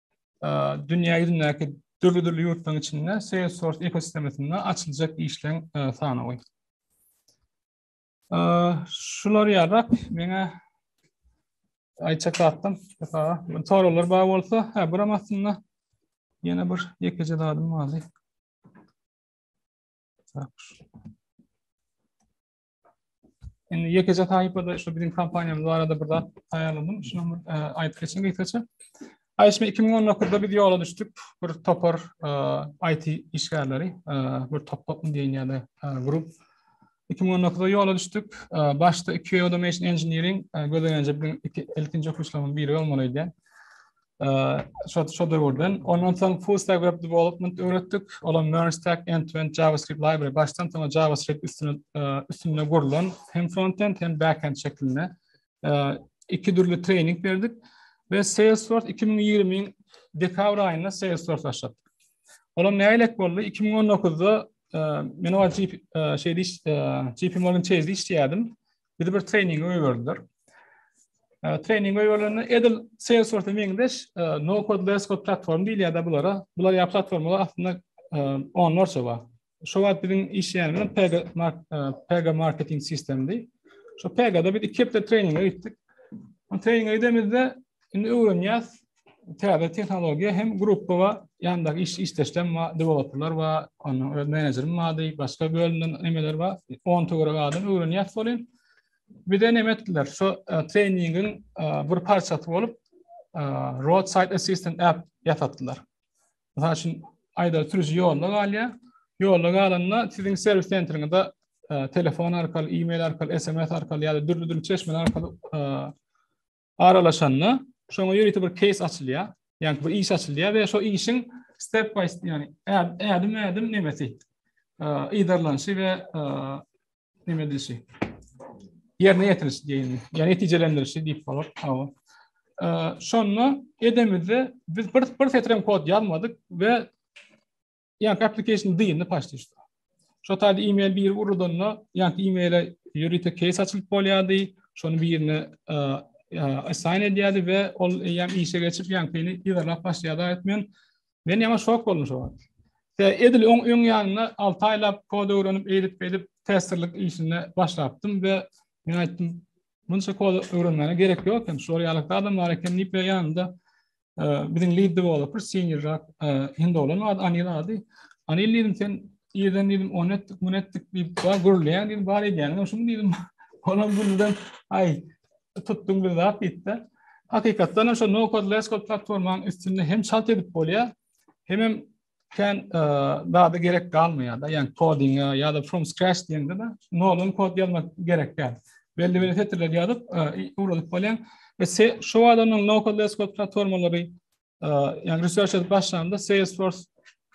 dünýä ýüzündäki dürli-dürli ýurtlaryň içinde Salesforce ekosistemasynda açyljak işleň sanawy. Şular ýarap, meňe aýtjak zatym, bu soralar bar bolsa, hä, buram aslynda ýene bir ýekeje zadym bardy. Indi ýekeje sahypada şu biziň kompaniýamyz barada bir zat taýýarladym. Şuny bir e, aýdyp geçeň gysgaça. Aýşme 2019-da biz ýola düşdük. Bir topar e, IT işgärleri, e, bir topar diýen ýa-da grup. 2019-da ýola düşdük. Başda iki Automation Engineering gözelenje biziň ilkinji okuwçylarymyzyň biri bolmaly diýen. Şo döwürden. Ondan soň full stack web development öwretdik. Olam Merge Stack end-to-end JavaScript library başdan soňa JavaScript üstüne üstünde gurlan hem frontend hem backend şeklinde iki dürli trening berdik we Salesforce 2020-iň dekabr aýynda Salesforce başlatdyk. Olam nälet boldy? 2019-da men o JP Morgan Chase-de işleýärdim. Bizi bir treninge goýberdiler. E, trening goýberende edil Salesforce meňzeş e, no code less code platform diýilýärdi bulara. Bular ýa platformalar aslynda e, onlarça bar. Şu wagt biziň işleýänimiz Pega Pega marketing sistemdi. Şu Pega-da biz iki hepde treninge gitdik. O treninge gidemizde indi öwrenýäs, täze tehnologiýa hem gruppa we ýandaky iş işdeşlem we deweloperler we onuň öz menejerim bardy, başga bölümden emeler we 10 töwerek adam öwrenýär soly. Bize näme etdiler? Şu e, treningiň e, bir parçasy bolup e, roadside assistant app ýasatdylar. Mysal üçin, aýda sürüji ýolda galýar. Ýolda galanda siziň serwis sentriňizde telefon arkaly, e-mail arkaly, SMS arkaly ýa-da dürli-dürli çeşmeler arkaly aralaşanda şoňa ýörite bir case açylýar. Ýani bir iş açylýar we şo işiň step by step ýani ädim ädim nemesi yzarlanyşy we neme edilişi. Ýerine ýetiriliş diýilýär. Ýani netijelendirilişi diýip bolar. Hawa. Şonda edemizde biz bir bir setirem kod ýazmadyk we Ýa application dyndy paşty şu. Şu taýda e-mail bir urudanda, ýa e-maile ýörite case açylyp bolýardy. Şony birine assign edýärdi we ol ýa işe geçip ýa peni ýerlap başlaýardy aýtmyn. Men ýa şok boldum şu wagt. Tä edil öň öň ýanyna 6 aýlap kod öwrenip, edip edip testerlik işine başlapdym we men aýtdym, Munça kod öwrenmäne gerek ýok hem, şol ýalakda adamlar eken diýip ýanynda biziň lead developer senior rak hindi olan ad anil ady anil dedim sen ýerden dedim on etdik mun etdik diýip bar gürleýän dedim bar edýäniň şuny dedim olam gülden ay tutdum bir zat diýipdi hakykatdan hem şu no code less code platformanyň üstünde hem çalt edip bolýar hem hem Kän e, zada gerek galmaýar da, ýagny kodinge ýa-da from scratch diýende de noldan kod ýazmak gerek däl. Belli bir setirler ýazyp, e, ugradyp bolýan. Ve se, şu adamyň no code less code platformalary, e, ýagny research edip başlanda Salesforce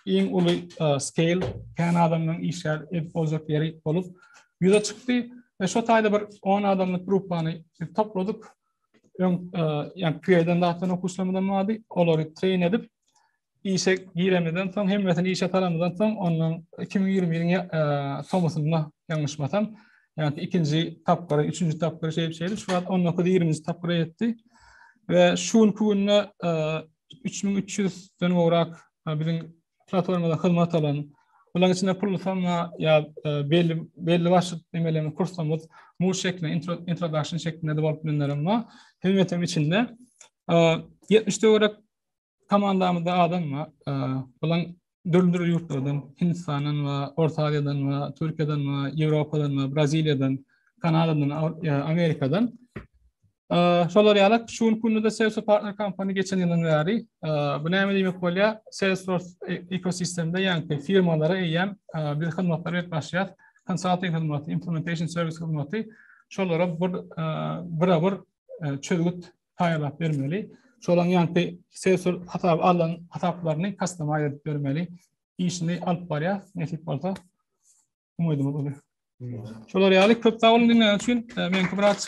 iň uly e, scale kän adamyň işler edip boljak ýeri bolup ýüze çykdy. Ve şu taýda bir 10 adamlyk gruppany topladyk. Öň, e, ýagny PA-dan zatdan okuslamadan wady, olary train edip, Işe giremizden soň, hemmesini işe salamyzdan soň, ondan 2020-niň tomusynda ýalňyşmasam, ýa-da ikinji tapgyry, üçünji tapgyry şeýle-şeýle, şu wagt 19-20-nji tapgyra ýetdi. We şu günki günde 3300-den gowrak biziň platformada hyzmat alan, bularyň içinde pul sanma ýa belli belli başly emelerini kursumyz, muz şeklinde, introduction şeklinde bolup bilenlerem bar. Hemmesiniň içinde 70-den gowrak Komandamyzda adam bar. Bulan dürli-dürli ýurtlardan, Hindistandan bar, Orta Aziýadan bar, Türkiýeden bar, Ýewropadan bar, Braziliýadan, Kanadadan, Amerikadan. Şolar ýaly şu günki günde-de Salesforce Partner Company geçen ýylyň bäri bu näme diýmek bolýar? Salesforce ekosistemde ýaňky firmalara eýýäm biz hyzmatlary berip başlaýas. Konsalting hyzmaty, implementation serwis hyzmaty şolara bir bira-bir çözgüt taýýarlap bermeli. Şolaň ýaňky sensor hasap alan hasaplaryny kastoma edip bermeli. Işini alyp barýar. Nesip bolsa umydymyz uly. Şolar ýaly köp sag boluň diňleýän üçin. Meňki biraz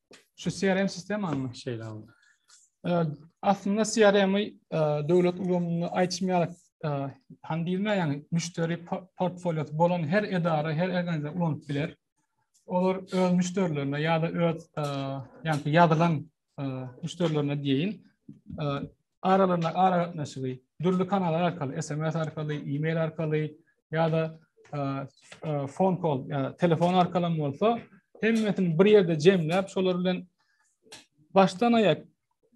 Şu CRM sistemany şeýle aldy. Aslynda CRM-i döwlet ulgamynda aýtmaýar, han diýilmeýär, ýagny müşderi portfoliosy bolan her edara, her organizatsiýa ulanyp biler. Olar öz müşderilerine ýa-da öz ýagny ýazylan müşderilerine diýeýin, aralaryndaky aragatnaşygy dürli kanallar arkaly, SMS arkaly, e-mail arkaly ýa-da fon kol, ýa telefon arkaly bolsa, hemmesini bir ýerde jemläp, şolar bilen başdan aýak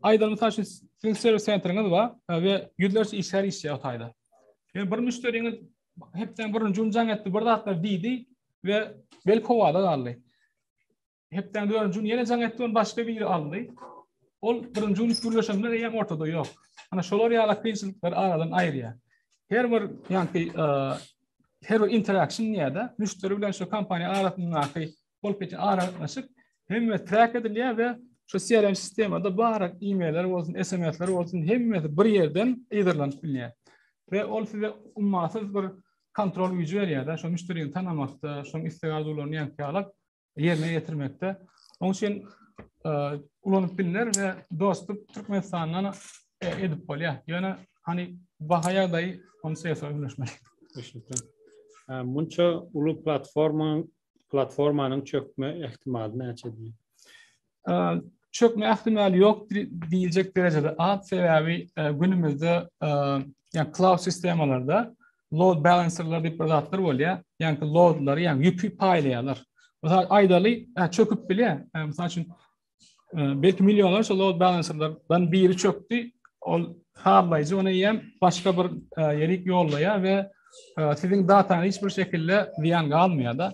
aýdan mysal üçin siziň serwis sentriňiz bar we ýüzlerçe işgär işleýär o taýda. Ýöne bir müşderiňiz hepden birinji gün jaň etdi, bir zatlar diýdi we bel howada galdy. Hepdäň dördünji gün ýene jaň etdi, ony başga biri aldy. Ol birinji gün üç gürleşen bilen eýýäm ortada ýok. Ana şolar ýaly kynçylyklary aradan aýyrýar. Her bir ýanki e, her bir interaction ýa-da müşderi bilen şu kompaniýa arasyndaky bolup geçen aragatnaşyk hemme track edilýär we şu CRM sistemada barak e-mailler bolsun, SMS-ler bolsun, hemmesi bir ýerden ýygyrdylanyp bilýär. We ol size ummasyz bir kontrol güýji berýär-de, şu müşderini tanamakda, şoň isleg-arzuwlaryny ýankyýalak ýerine ýetirmekde. Onuň üçin ulanyp bilner we dostluk Türkmenistandan edip bolýar. Ýöne hani baha ýagdaýy ony sesä öwrenişmeli. Düşündim. Munça uly platforma platformanyň çökme ähtimaly näçedir? çökme ähtimal ýok diýiljek derejede az sebäbi günümizde ýa cloud sistemalarda load balancerlar diýip bir zatlar bolýar. Ýa-da loadlary, ýa ýüki paýlaýarlar. Mysal aýdaly, çöküp bilýär. Mysal üçin belki millionlarça load balancerlardan biri çökdi. Ol hallaýjy ony ýem başga bir ýerik ýollaýar we siziň datany hiç bir şekilde zyýan galmaýar-da.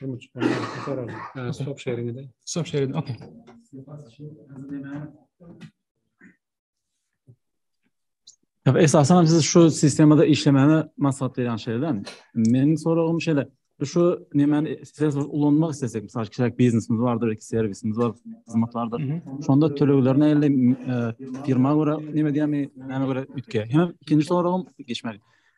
Durmuş polisi sorar. Ha, stop sharing ede. Stop sharing, okey. Ýa esasan hem siz şu sistemada işlemäni maslahat berýän şeýlemi? Meniň soragym şeýle. Biz şu nemäni size ulanmak istesek, mysal kişilik biznesimiz bardyr, belki serwisimiz bar, hyzmat bardyr. Şonda tölegler näle firma görä neme diýämi, näme görä üýtgeýär. Hem ikinji soragym geçmeli.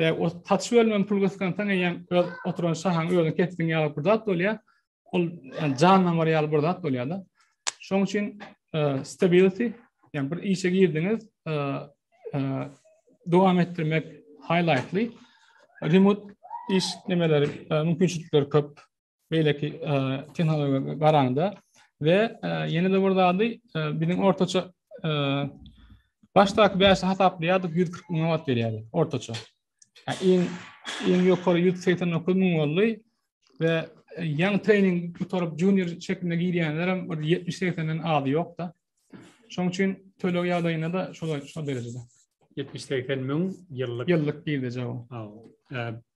Ve o saç bölümden pul kıskansan eýýäm öz oturan şahaň özüň kesdiň ýaly bir zat bolýar. Ol yani jandan bar ýaly bir zat bolýar da. Şoň üçin e, stability yani bir işe girdiňiz e, e, dowam etdirmek highlightly. Remote iş nemeleri mümkinçilikleri köp. beýleki tehnologiýa garanda we ýene-de bir zady biziň ortaça başdaky bäşe hasaplaýardyk 140 müň wagt berýärdi ortaça. Iň iň ýokary 189 müň boldy we ýaň trening gutaryp junior şeklinde girýänler hem 70-80-den az ýokda. Şoň üçin töleg ýagdaýynda da şol şol derejede. 70-80 müň ýyllyk. Ýyllyk girdeje bu.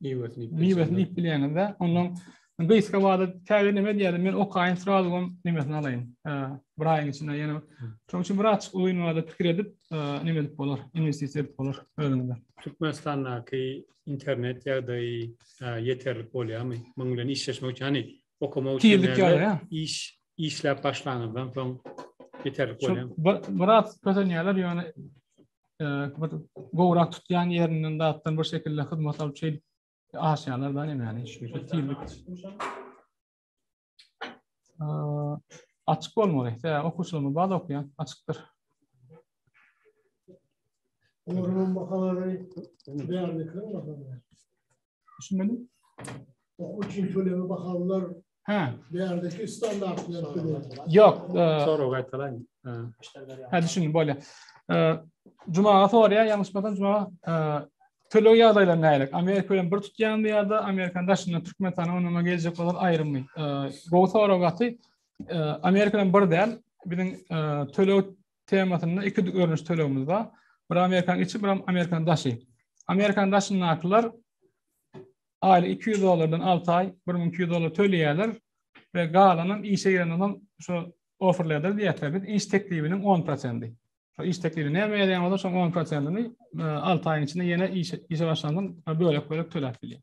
Miwesini miwesini iýip bilýäňizde, ondan gysga wada täze neme diýýärdi, men okaýyn srazu hem nimesini alaýyn. Bir aýyň içinde ýene. Şonuň üçin bir açyk uzyn wada pikir edip, nime edip bolar, investisiýa edip bolar özüňde. Türkmenistandaky internet ýagdaýy ýeterlik bolýarmy? Munuň bilen işleşmek üçin, hani okamak üçin iş işläp başlanyňyzdan soň ýeterlik bolýarmy? Bir bir az kösenýärler, ýöne bir gowrak tutýan ýerinden zatdan bir şekilde hyzmat alyp şeýdip aşýarlar da nämäni şeýle tizlik açyk bolmaly tä okuwçylarymyz bar okuýan açykdyr Orman bakalary beýanlyklaryň bakalary. Düşünmeli? Okuw üçin töleme bahalar Ha. Değerdeki standartlar. Yok. E, Sonra gaytalayın. Ha düşünün böyle. E, Cuma sonra ya yanlış bakan Cuma e, töleg ýagdaýlar nälik? Amerika bilen bir tutýanmy ýa-da Amerikanyň daşynda Türkmenistana onama geljek bolan aýrymy? E, gowy sorag aty. E, Amerika bilen bir däl. Biziň e, töleg temasynda iki görnüş tölegimiz bar. Bir Amerikan içi, bir Amerikan daşy. Amerikan daşyndakylar aýly 200 dollardan 6 aý 1200 dollar töleýärler we galanam işe girenden şu offerlerdir diýýärler. Biz iş teklibiniň 10%. Şu iş teklibi näme berýän bolsa şoň 10%-ni 6 aýyň içinde ýene işe işe başlandan bölek-bölek töläp bilýär.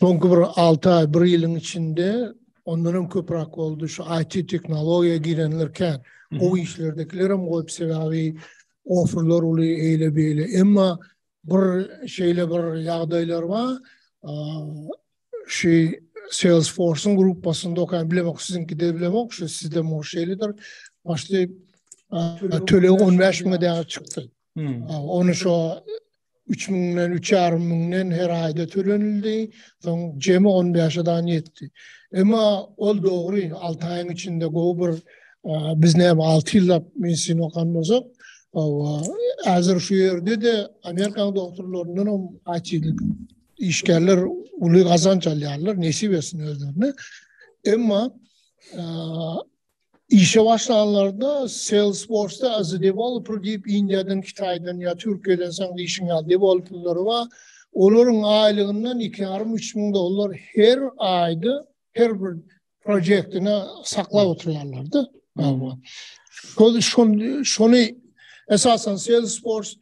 Soňky bir alty aý, bir ýylyň içinde ondan hem köpräk boldy, şu IT tehnologiýa girenler kän. Gowy işlerdekiler hem goýup, sebäbi ofurlar uly, eýle-beýle. Emma bir şeýle bir ýagdaýlar bar, şu Salesforce-yň gruppasynda okaýan, bilemok, siziňkide bilemok, şu sizde şeýledir, başda tölegi on bäş müňe däl çykdy. Ony şo 3000-den, 3500-den her aýda tölenildi. Soň jemi 15 adan ýetdi. Emma ol dogry, 6 aýyň içinde gowy bir biz näme 6 ýyllap medisina okan bolsak, häzir şu ýerde-de Amerikanyň doktorlaryndan hem aýtýarlar. Işgärler uly gazanç alýarlar, nesip etsin özlerine. Emma Işe başlanlarynda Salesforce-da as a developer diýip Indiýadan, Kitaýdan ýa Türkiýeden sen diýşiň ýaly dewolplrleri bar. Olaryň aýlygyndan iki ýarym, üç müň dollar her aýda her bir projektine saklap oturýarlar-da. Şol şol şony esasan Salesforce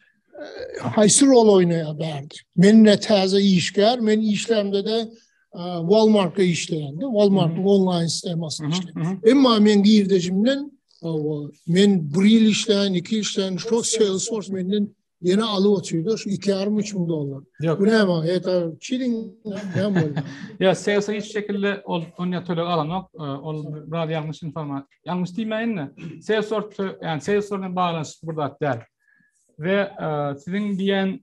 haýsy rol oýnaýar bärde? Men ne täze işgär, men işlerimde-de Walmartda işleýändi. Walmartyň onlaýn sistemasy işleýär. Emma men girdejimden men bir ýyl işleýän, iki ýyl işleýän, şu Salesforce menden ýene alyp oturýar, şu 2,5 müň dollar. Bu näme? Eta çirin näme bolýar? Ýa sales hiç şekilde ol ony töleg alanok. Ol biraz ýalňyş informasiýa. Ýalňyş diýmäýin-de, Salesforce, ýani Salesforce bilen baglanyşykly bir zat däl. We siziň diýen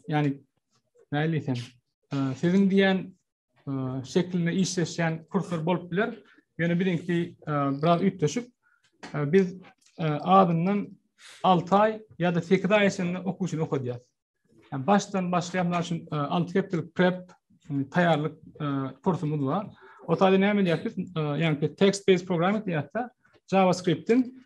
yani näli diýsem, siziň diýen şeklinde işleşýän kurslar bolup biler. Ýöne biziňki biraz üýtgeşik. Biz adyndan 6 aý ýa-da 8 aý içinde okuwçyny okadýar. Yani başdan başlaýan mysal üçin 6 hepdelik prep taýýarlyk kursumuz bar. O taýda näme diýýär biz? Yani text based programming diýýär-de, JavaScript-in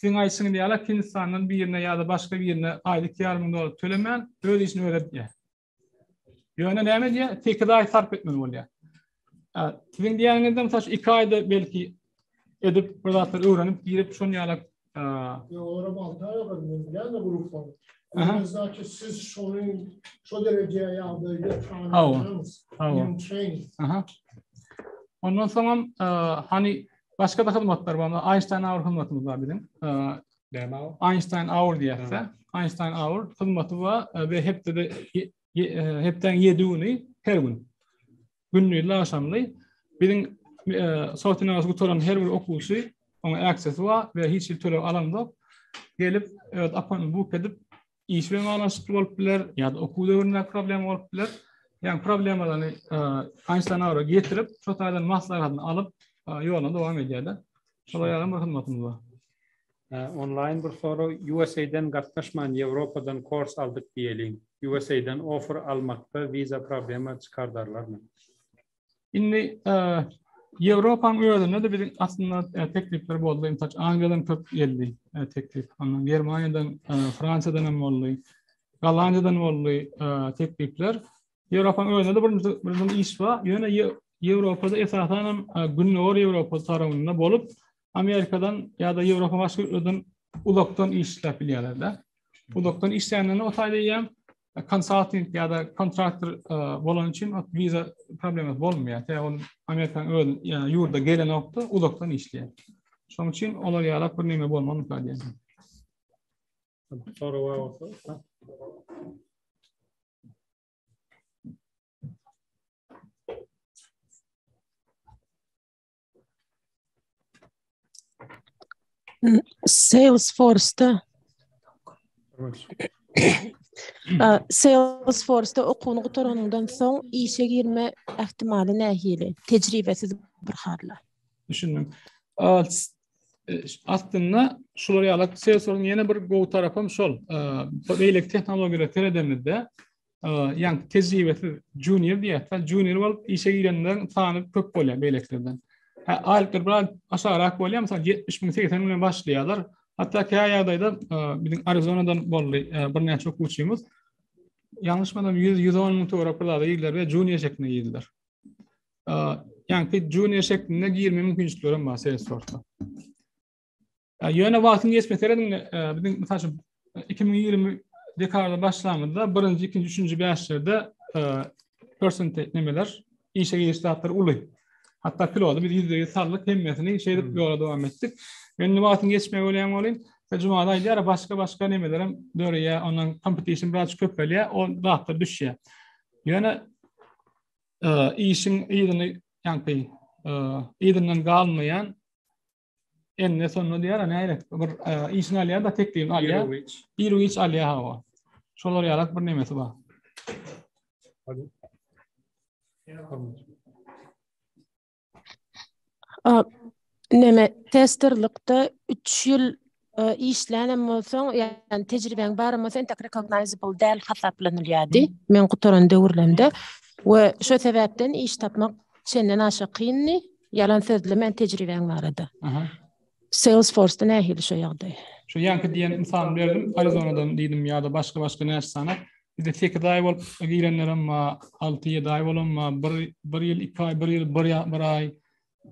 Siziň aýdyşyňyz ýaly Hindistandan birine ýa-da başga birine aýda iki ýarym müň dollar tölemän öz işini özi edýär. Ýöne näme diýýär? Sekiz aý sarp etmeli bolýar. Siziň diýýäniňizde mysal üçin iki aýda belki edip bir zatlar öwrenip girip şon ýaly Ýolara balta ýolar, men ýa-da grupda. Bizaki siz şonuň şo derejä ýa-da ýetýän. Hawa. Hawa. Ondan soň hem hani Başga-da hyzmatlar bar. Einstein Hour hyzmatymyz bar biziň. Näme o? Einstein Hour diýýärse, Einstein Hour hyzmaty bar we hepdede hepdäň 7 güni her gün. Gündizli agşamly biziň sowetiniň gutaran her bir okuwçy oňa aksesi bar we hiç hil töleg alandyk. Gelip, öz apanyny buk edip, iş bilen baglanyşykly bolup biler, ýa-da okuw döwründe problem bolup biler. Ýa problemalary Einstein ara getirip, şo taýdan maslahatyny alyp, ýoluna dowam edýär-de. Şolar ýaly bir hyzmatymyz bar. Onlaýn bir sorag, USA-den gatnaşman Ýewropadan kors aldyk diýeliň. USA-dan offer almakda wiza problema çykardarlarmy? Indi Ýewropanyň özünde de biziň aslynda teklipler boldy. Ýa-da Angliýadan köp geldi teklip. Ondan Germaniýadan, Fransiýadan hem boldy. Gollandiýadan boldy teklipler. Ýewropanyň özünde de birinji birinji iş bar. Ýöne Ýewropada esasan hem Gündogar Ýewropa tarapynda bolup, Amerikadan ýa-da Ýewropa başga ýurtlardan uzakdan iş isläp bilýärler-de. Uzakdan işlänlerine o taýda ýem konsulting ýa-da kontraktor e, bolan üçin viza problematy bolmaýar. Sebäbi ol Amerikanyň öz ýa ýurda gelen wagtda uzakdan işleýär. Şonuň üçin olar ýaly bir näme bolmagyny ümit edýärin. Soraw bolsa. Salesforce-da Salesforce-da okuwyny gutaranyňdan soň işe girme ähtimaly nähili? Tejribesiz bir harla. Düşündim. E, aslynda şular ýaly Salesforce-yň ýene bir gowy tarapy hem şol. E, beýleki tehnologiýalara seredemizde ýaňky tejribesiz junior diýýärler. Junior bolup işe girenleriň sany köp bolýar beýlekilerden. Hä, aýlyklary biraz aşagrak bolýar, mysal 70 müň, 80 müňden başlaýarlar. Hatda käýa ýagdaýda biziň Arizonadan boldy birnäçe okuwçymyz. Ýalňyşmasam 100-110 müň töwerek bir zada girdiler we junior şeklinde girdiler. Ýaňky junior şeklinde girme mümkinçilikleri hem bar Salesforce-da. Ýöne wagtyň geçmesi seredin biziň mysal üçin 2020 dekada başlangyda birinji, ikinji, üçünji bäşlerde percentage nemeler işe giriş zatlar uly. Hatta pilota biz ýüzde ýüz saldyk hemmesini şeýdip ýola dowam etdik. Men indi wagtyň geçmegi bolýan bolýan. Jumada aýdýar, başga başga nemeler hem döreýär, ondan competition biraz köpelýär, o zatlar düşýär. Ýöne işiň ýygyny, ýagny ýygyndan galmaýan Enne sonuna diýär, a näre? Bir işini alýar da teklibini alýar. Birowiç. Birowiç alýar hawa. Şolar ýalak bir nemesi bar. Neme testerlikde 3 ýyl işlänem bolsaň, ýagny tejribäň barem bolsa, entek recognizable däl hasaplanylýardy, men gutaran döwürlemde we şo sebäpden iş tapmak çenden aşa kyndy, ýalan sözlemän tejribäň barada. Salesforce-da nähili şo ýagdaý? Şu ýaňky diýen mysalymy berdim, Arizonadan diýdim ýa-da başga-başga näçe sany. Bizde sekiz aý bolup girenlerem bar, alty-ýedi aý bolanam bar, bir, bir ýyl iki aý, bir ýyl bir aý,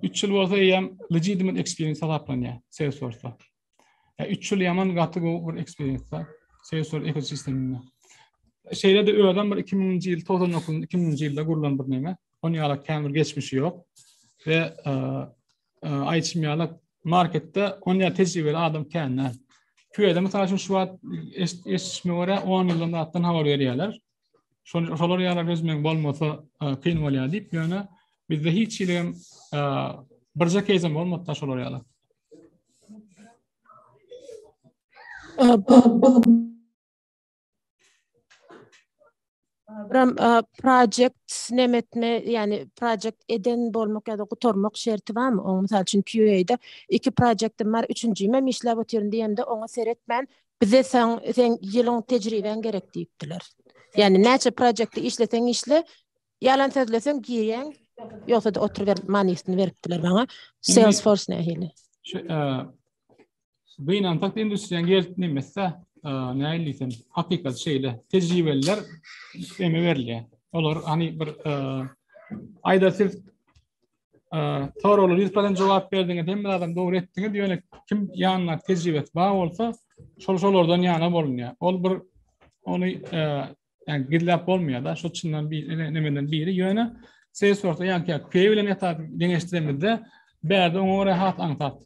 3 ýyl bolsa eýýäm legitimate experience hasaplanýar Salesforce-da. Yani 3 ýyl ýaman gaty gowy bir experience-da Salesforce ekosisteminde. Şeýle de özüm bir 2000-nji ýyl 99-njy 2000-nji ýylda gurlan bir näme. Ony ýaly kämir geçmişi ýok. Ve e, e, aýtym ýaly marketde ony ýaly tejribeli adam känler. Küýede mysal üçin şu wagt eşitme görä 10 ýyldan zatdan habar berýärler. Şol şolar ýaly gözmek bolmasa e, kyn bolýar diýip, ýöne bizde hiç hili hem e, birje keýzem bolmady da şolar ýaly. Ram e, project nemetme yani project eden bolmak ya da gutarmak şerti var mı? Onu misal için QA'da iki projectim var, üçüncüyüm hem işlep oturuyorum diyemde ona seyretmen Bize sen sen ýylyň tejribeň gerek diýipdiler. Ýani näçe projektde işleseň işle, ýalan sözleseň girýäň, ýogsa-da oturyber manysyny beripdiler maňa. Salesforce nähili? Şu Gynansak industriýa gelip nemesse, nähili diýsem, hakykat şeýle. Tejribeliler emä berilýär. Olar hany bir aýda siz Soraglar ýüz prosen jogap berdiňiz. Hemme adam dogry etdiňiz. Ýöne kim ýanyna tejribesi bar bolsa, şol şolardan ýana bolunýar. Ol bir ony yani gizläp bolmaýar da, şu çyndan bir nemeden biri. Ýöne ses sorsa ýa ki, köýe bilen ýatar deňeşdiremizde, bärde oňa görä hat aňsat.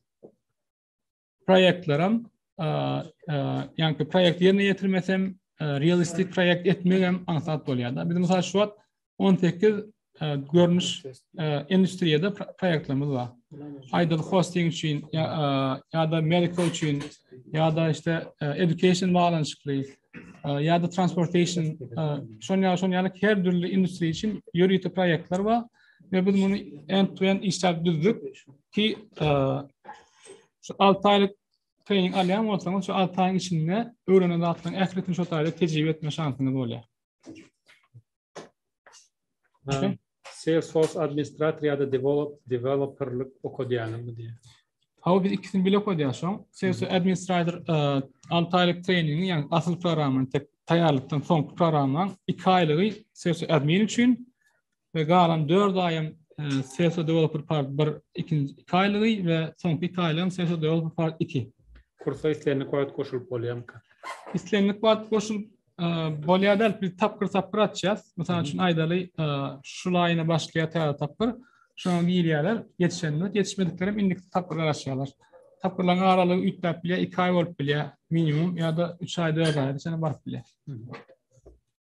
proýektlerim ýa-da proýekt ýerine ýetirmesem realistik proýekt etmegem aňsat bolýar-da. Biz mysal şu wagt 18 görnüş industriýada proýektlerimiz bar. Aýdyl hosting üçin ýa-da medical üçin ýa-da işte education baglanyşykly ýa-da transportation şon ýa-da şon ýaly her dürli industriýa üçin ýörite proýektler bar. Ve biz bunu end-to-end işläp düzdük ki, Şu 6 aýlyk trening alýan bolsaňyz, şu 6 aýyň içinde öwrenen zatlaryň ählisini şu taýda tejribe etme şansyňyz bolýar. Okay. Salesforce administrator ýa-da develop developerlik okadýanmy diýýär. Hawa biz ikisini bile okadýar şoň. Salesforce administrator 6 aýlyk treningi, ýagny asyl programmany tek taýýarlykdan soňky programmaň 2 aýlygy Salesforce admin üçin, we galan dört aýam Sesar Developer Part bir ikinji iki aýlygy we soňky iki aýlygam Sesar Developer Part iki. Kursa islendik wagt goşulyp bolýarmyka? Islendik wagt goşulyp bolýar däl, biz tapgyr tapgyr açýas. Mysal üçin aýdaly, şu laýyna başlaýar täze tapgyr, şoňa girýärler, ýetişenler, ýetişmediklerem indiki tapgyra garaşýarlar. Tapgyrlaryň aralygy üýtgäp bilýär, iki aý bolup bilýär minimum ýa-da üç aý, dört aý, şeýle baryp bilýär.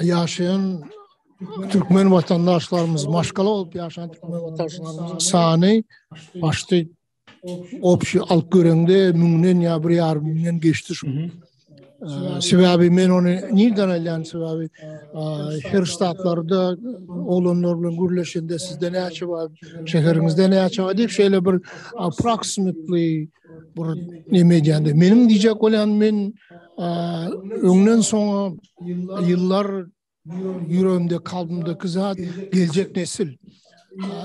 ýaşaýan türkmen watandaşlarymyz maşgala bolup ýaşan türkmen watandaşlarymyzyň sany başda opşy alyp görende müňden ýa bir ýarym müňden geçdi şu. Sebäbi men ony nirden alýan sebäbi her ştatlarda oglanlar bilen gürleşende sizde näçe bar, şäheriňizde näçe bar diýip şeýle bir approximately bir neme edýände. Meniň diýjek bolýan men öňden soňa ýyllar ýüregimde, kalbymdaky zat geljek nesil.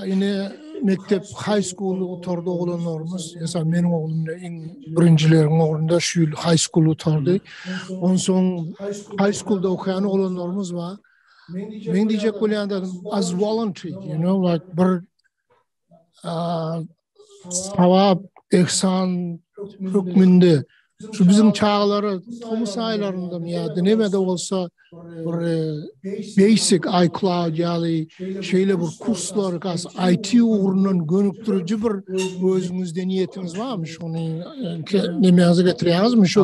Ine mekdep high school oturdy oglanlarymyz. Esa meniň oglum da iň birinjileriň orunda şu ýyl high school oturdy. Ondan soň high schoolda okaýan oglanlarymyz bar. Men diýjek bolýan zadym as voluntary, you know, like bir sawap ehsan hökmünde şu biziň çagalara tomus aýlarynda ýa-da näme-de bolsa bir e, basic iCloud ýaly şeýle bir kurslar, gas IT ugrundan gönükdiriji bir özüňizde niýetiňiz barmy? Şuny e, nämäňize getirýäňizmi? Şu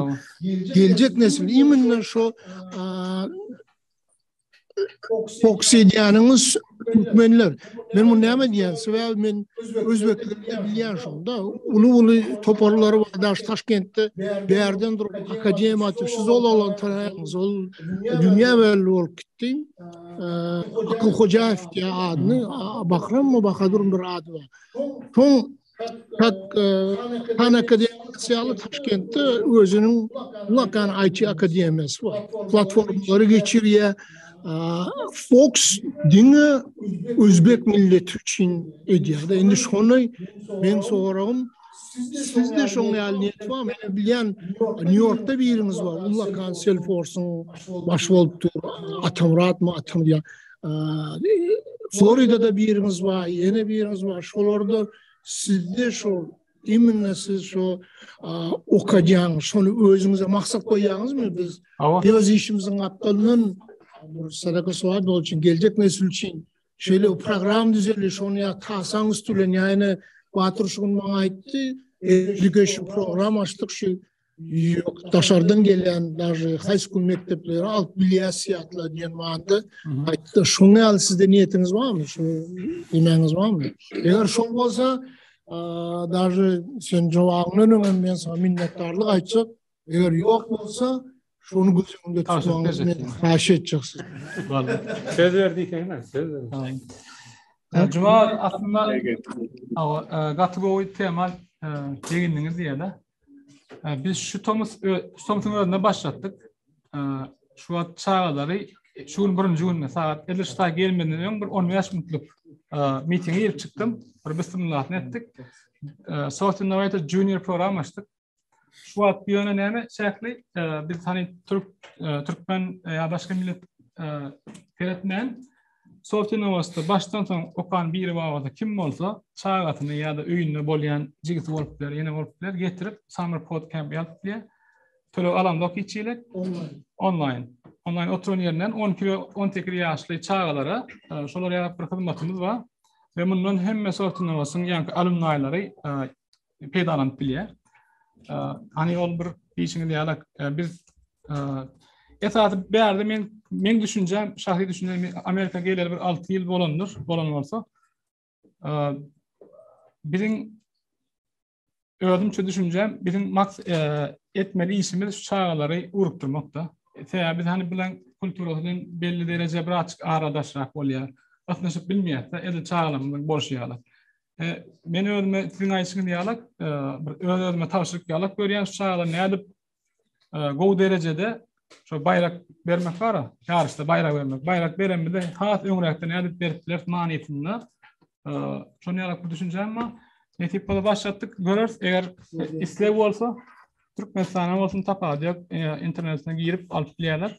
geljek nesil imенно şu Koksidiýanyňyz türkmenler. Men bunu näme diýýän? Sebäbi men özbeklikde bilýän şonda. Uly-uly toparlary bar daş Taşkentde. Bärden durup akademiýa atyp şu zol alan taraýyňyz. Ol dünýä belli bolup gitdi. Akyl Hojaýew diýýär adyny. Bahrym mı Bahadur bir ady bar. Şoň tak Tanaka diýýär, Taşkentde özüniň Lakan IT akademiýasy bar. Platformalary geçirýär. Fox diňe özbek milleti üçin edýär. Indi şony men soragym Sizde şoň ýaly niýet bar, men bilýän, Nýu-Ýorkda biriňiz bar, Lakan Selforsyň baş bolup dur, Atamyratmy, Atam ýa. Floridada birimiz bar, ýene birimiz bar. Şolarda sizde şol imенно siz şu okadýan, şony özüňize maksat goýýaňyzmy? Biz öz işimiziň gapdalyndan sadaka sowap bol üçin geljek nesil üçin şeýle program düzeldi, şony ýa tasaň üstülen, ýa ýene Batyr şu gün maňa aýtdy, education program açdyk şu Ýok, daşardan gelýän daşy haýsy gün mekdeplere alyp bilýäsýatlar diýen manda aýtdy. Şoň ýaly sizde niýetiňiz barmy? Şu diýmäňiz barmy? Eger şoň bolsa, daşy sen jogabyňdan öňem men sana minnetdarlyk aýtjak. Eger ýok bolsa, şony göz öňünde tutmagyňyzy men haýyş etjek siz. Boldy. Söz berdi ekeniň, söz berdi. Juma aslynda gaty gowy tema çegindiňiz diýeli. Biz şu tomus tomsuň özünde başlatdyk. Şu wagt çagalary şu gün birinji günde sagat 50 sağa gelmeden öň bir 15 minutlyk mitinge girip çykdym. Bir bismillahını etdik. Soft Innovator Junior program açdyk. Şu wagt ýöne näme şähli biz hani türk türkmen ýa başga millet seretmän Sorty Nowosti başdan soň okan biri barada kim bolsa çagasyny ýa-da öýünde bolýan jigisi bolup biler, ýene bolup biler, getirip Summer Code Camp ýazyp biler. Töleg alanzok hiç hili. Onlaýn. Onlaýn. Onlaýn oturan ýerinden 12 we 18 ýaşly çagalara şolar ýaly bir hyzmatymyz bar. Ve mundan hemme sortuna basyn, yani alumnaylary peýdalanyp bilýär. Hani ol bir diýişiňiz ýaly biz esasy bärde men men düşünjäm, şahsy düşünjäm Amerika geleli bir 6 ýyl bolandyr, bolan bolsa. Biziň özümçe düşünjäm, biziň maks etmeli işimiz şu çagalary urukdurmakda. Sebäbi biz hani bilen kulturasy bilen belli derejä birazçyk aradaşrak bolýar. Ysnyşyp bilmeýäs-de, edil çagalarymyzyň bolşy ýaly. E, men özüme siziň aýşyňyz ýaly e, bir öz özüme tabşyryk ýalak görýän şu çagda nädip e, gowy derejede şu baýrak bermek bar ýaryşda baýrak bermek baýrak beren bize has öňräkde nädip berip biler manysynda e, şu ýalak bir düşünjäm bar nesip bolsa başlatdyk göreris eger isleg bolsa Türkmenistana bolsun tapady yok internetine girip alyp bilerler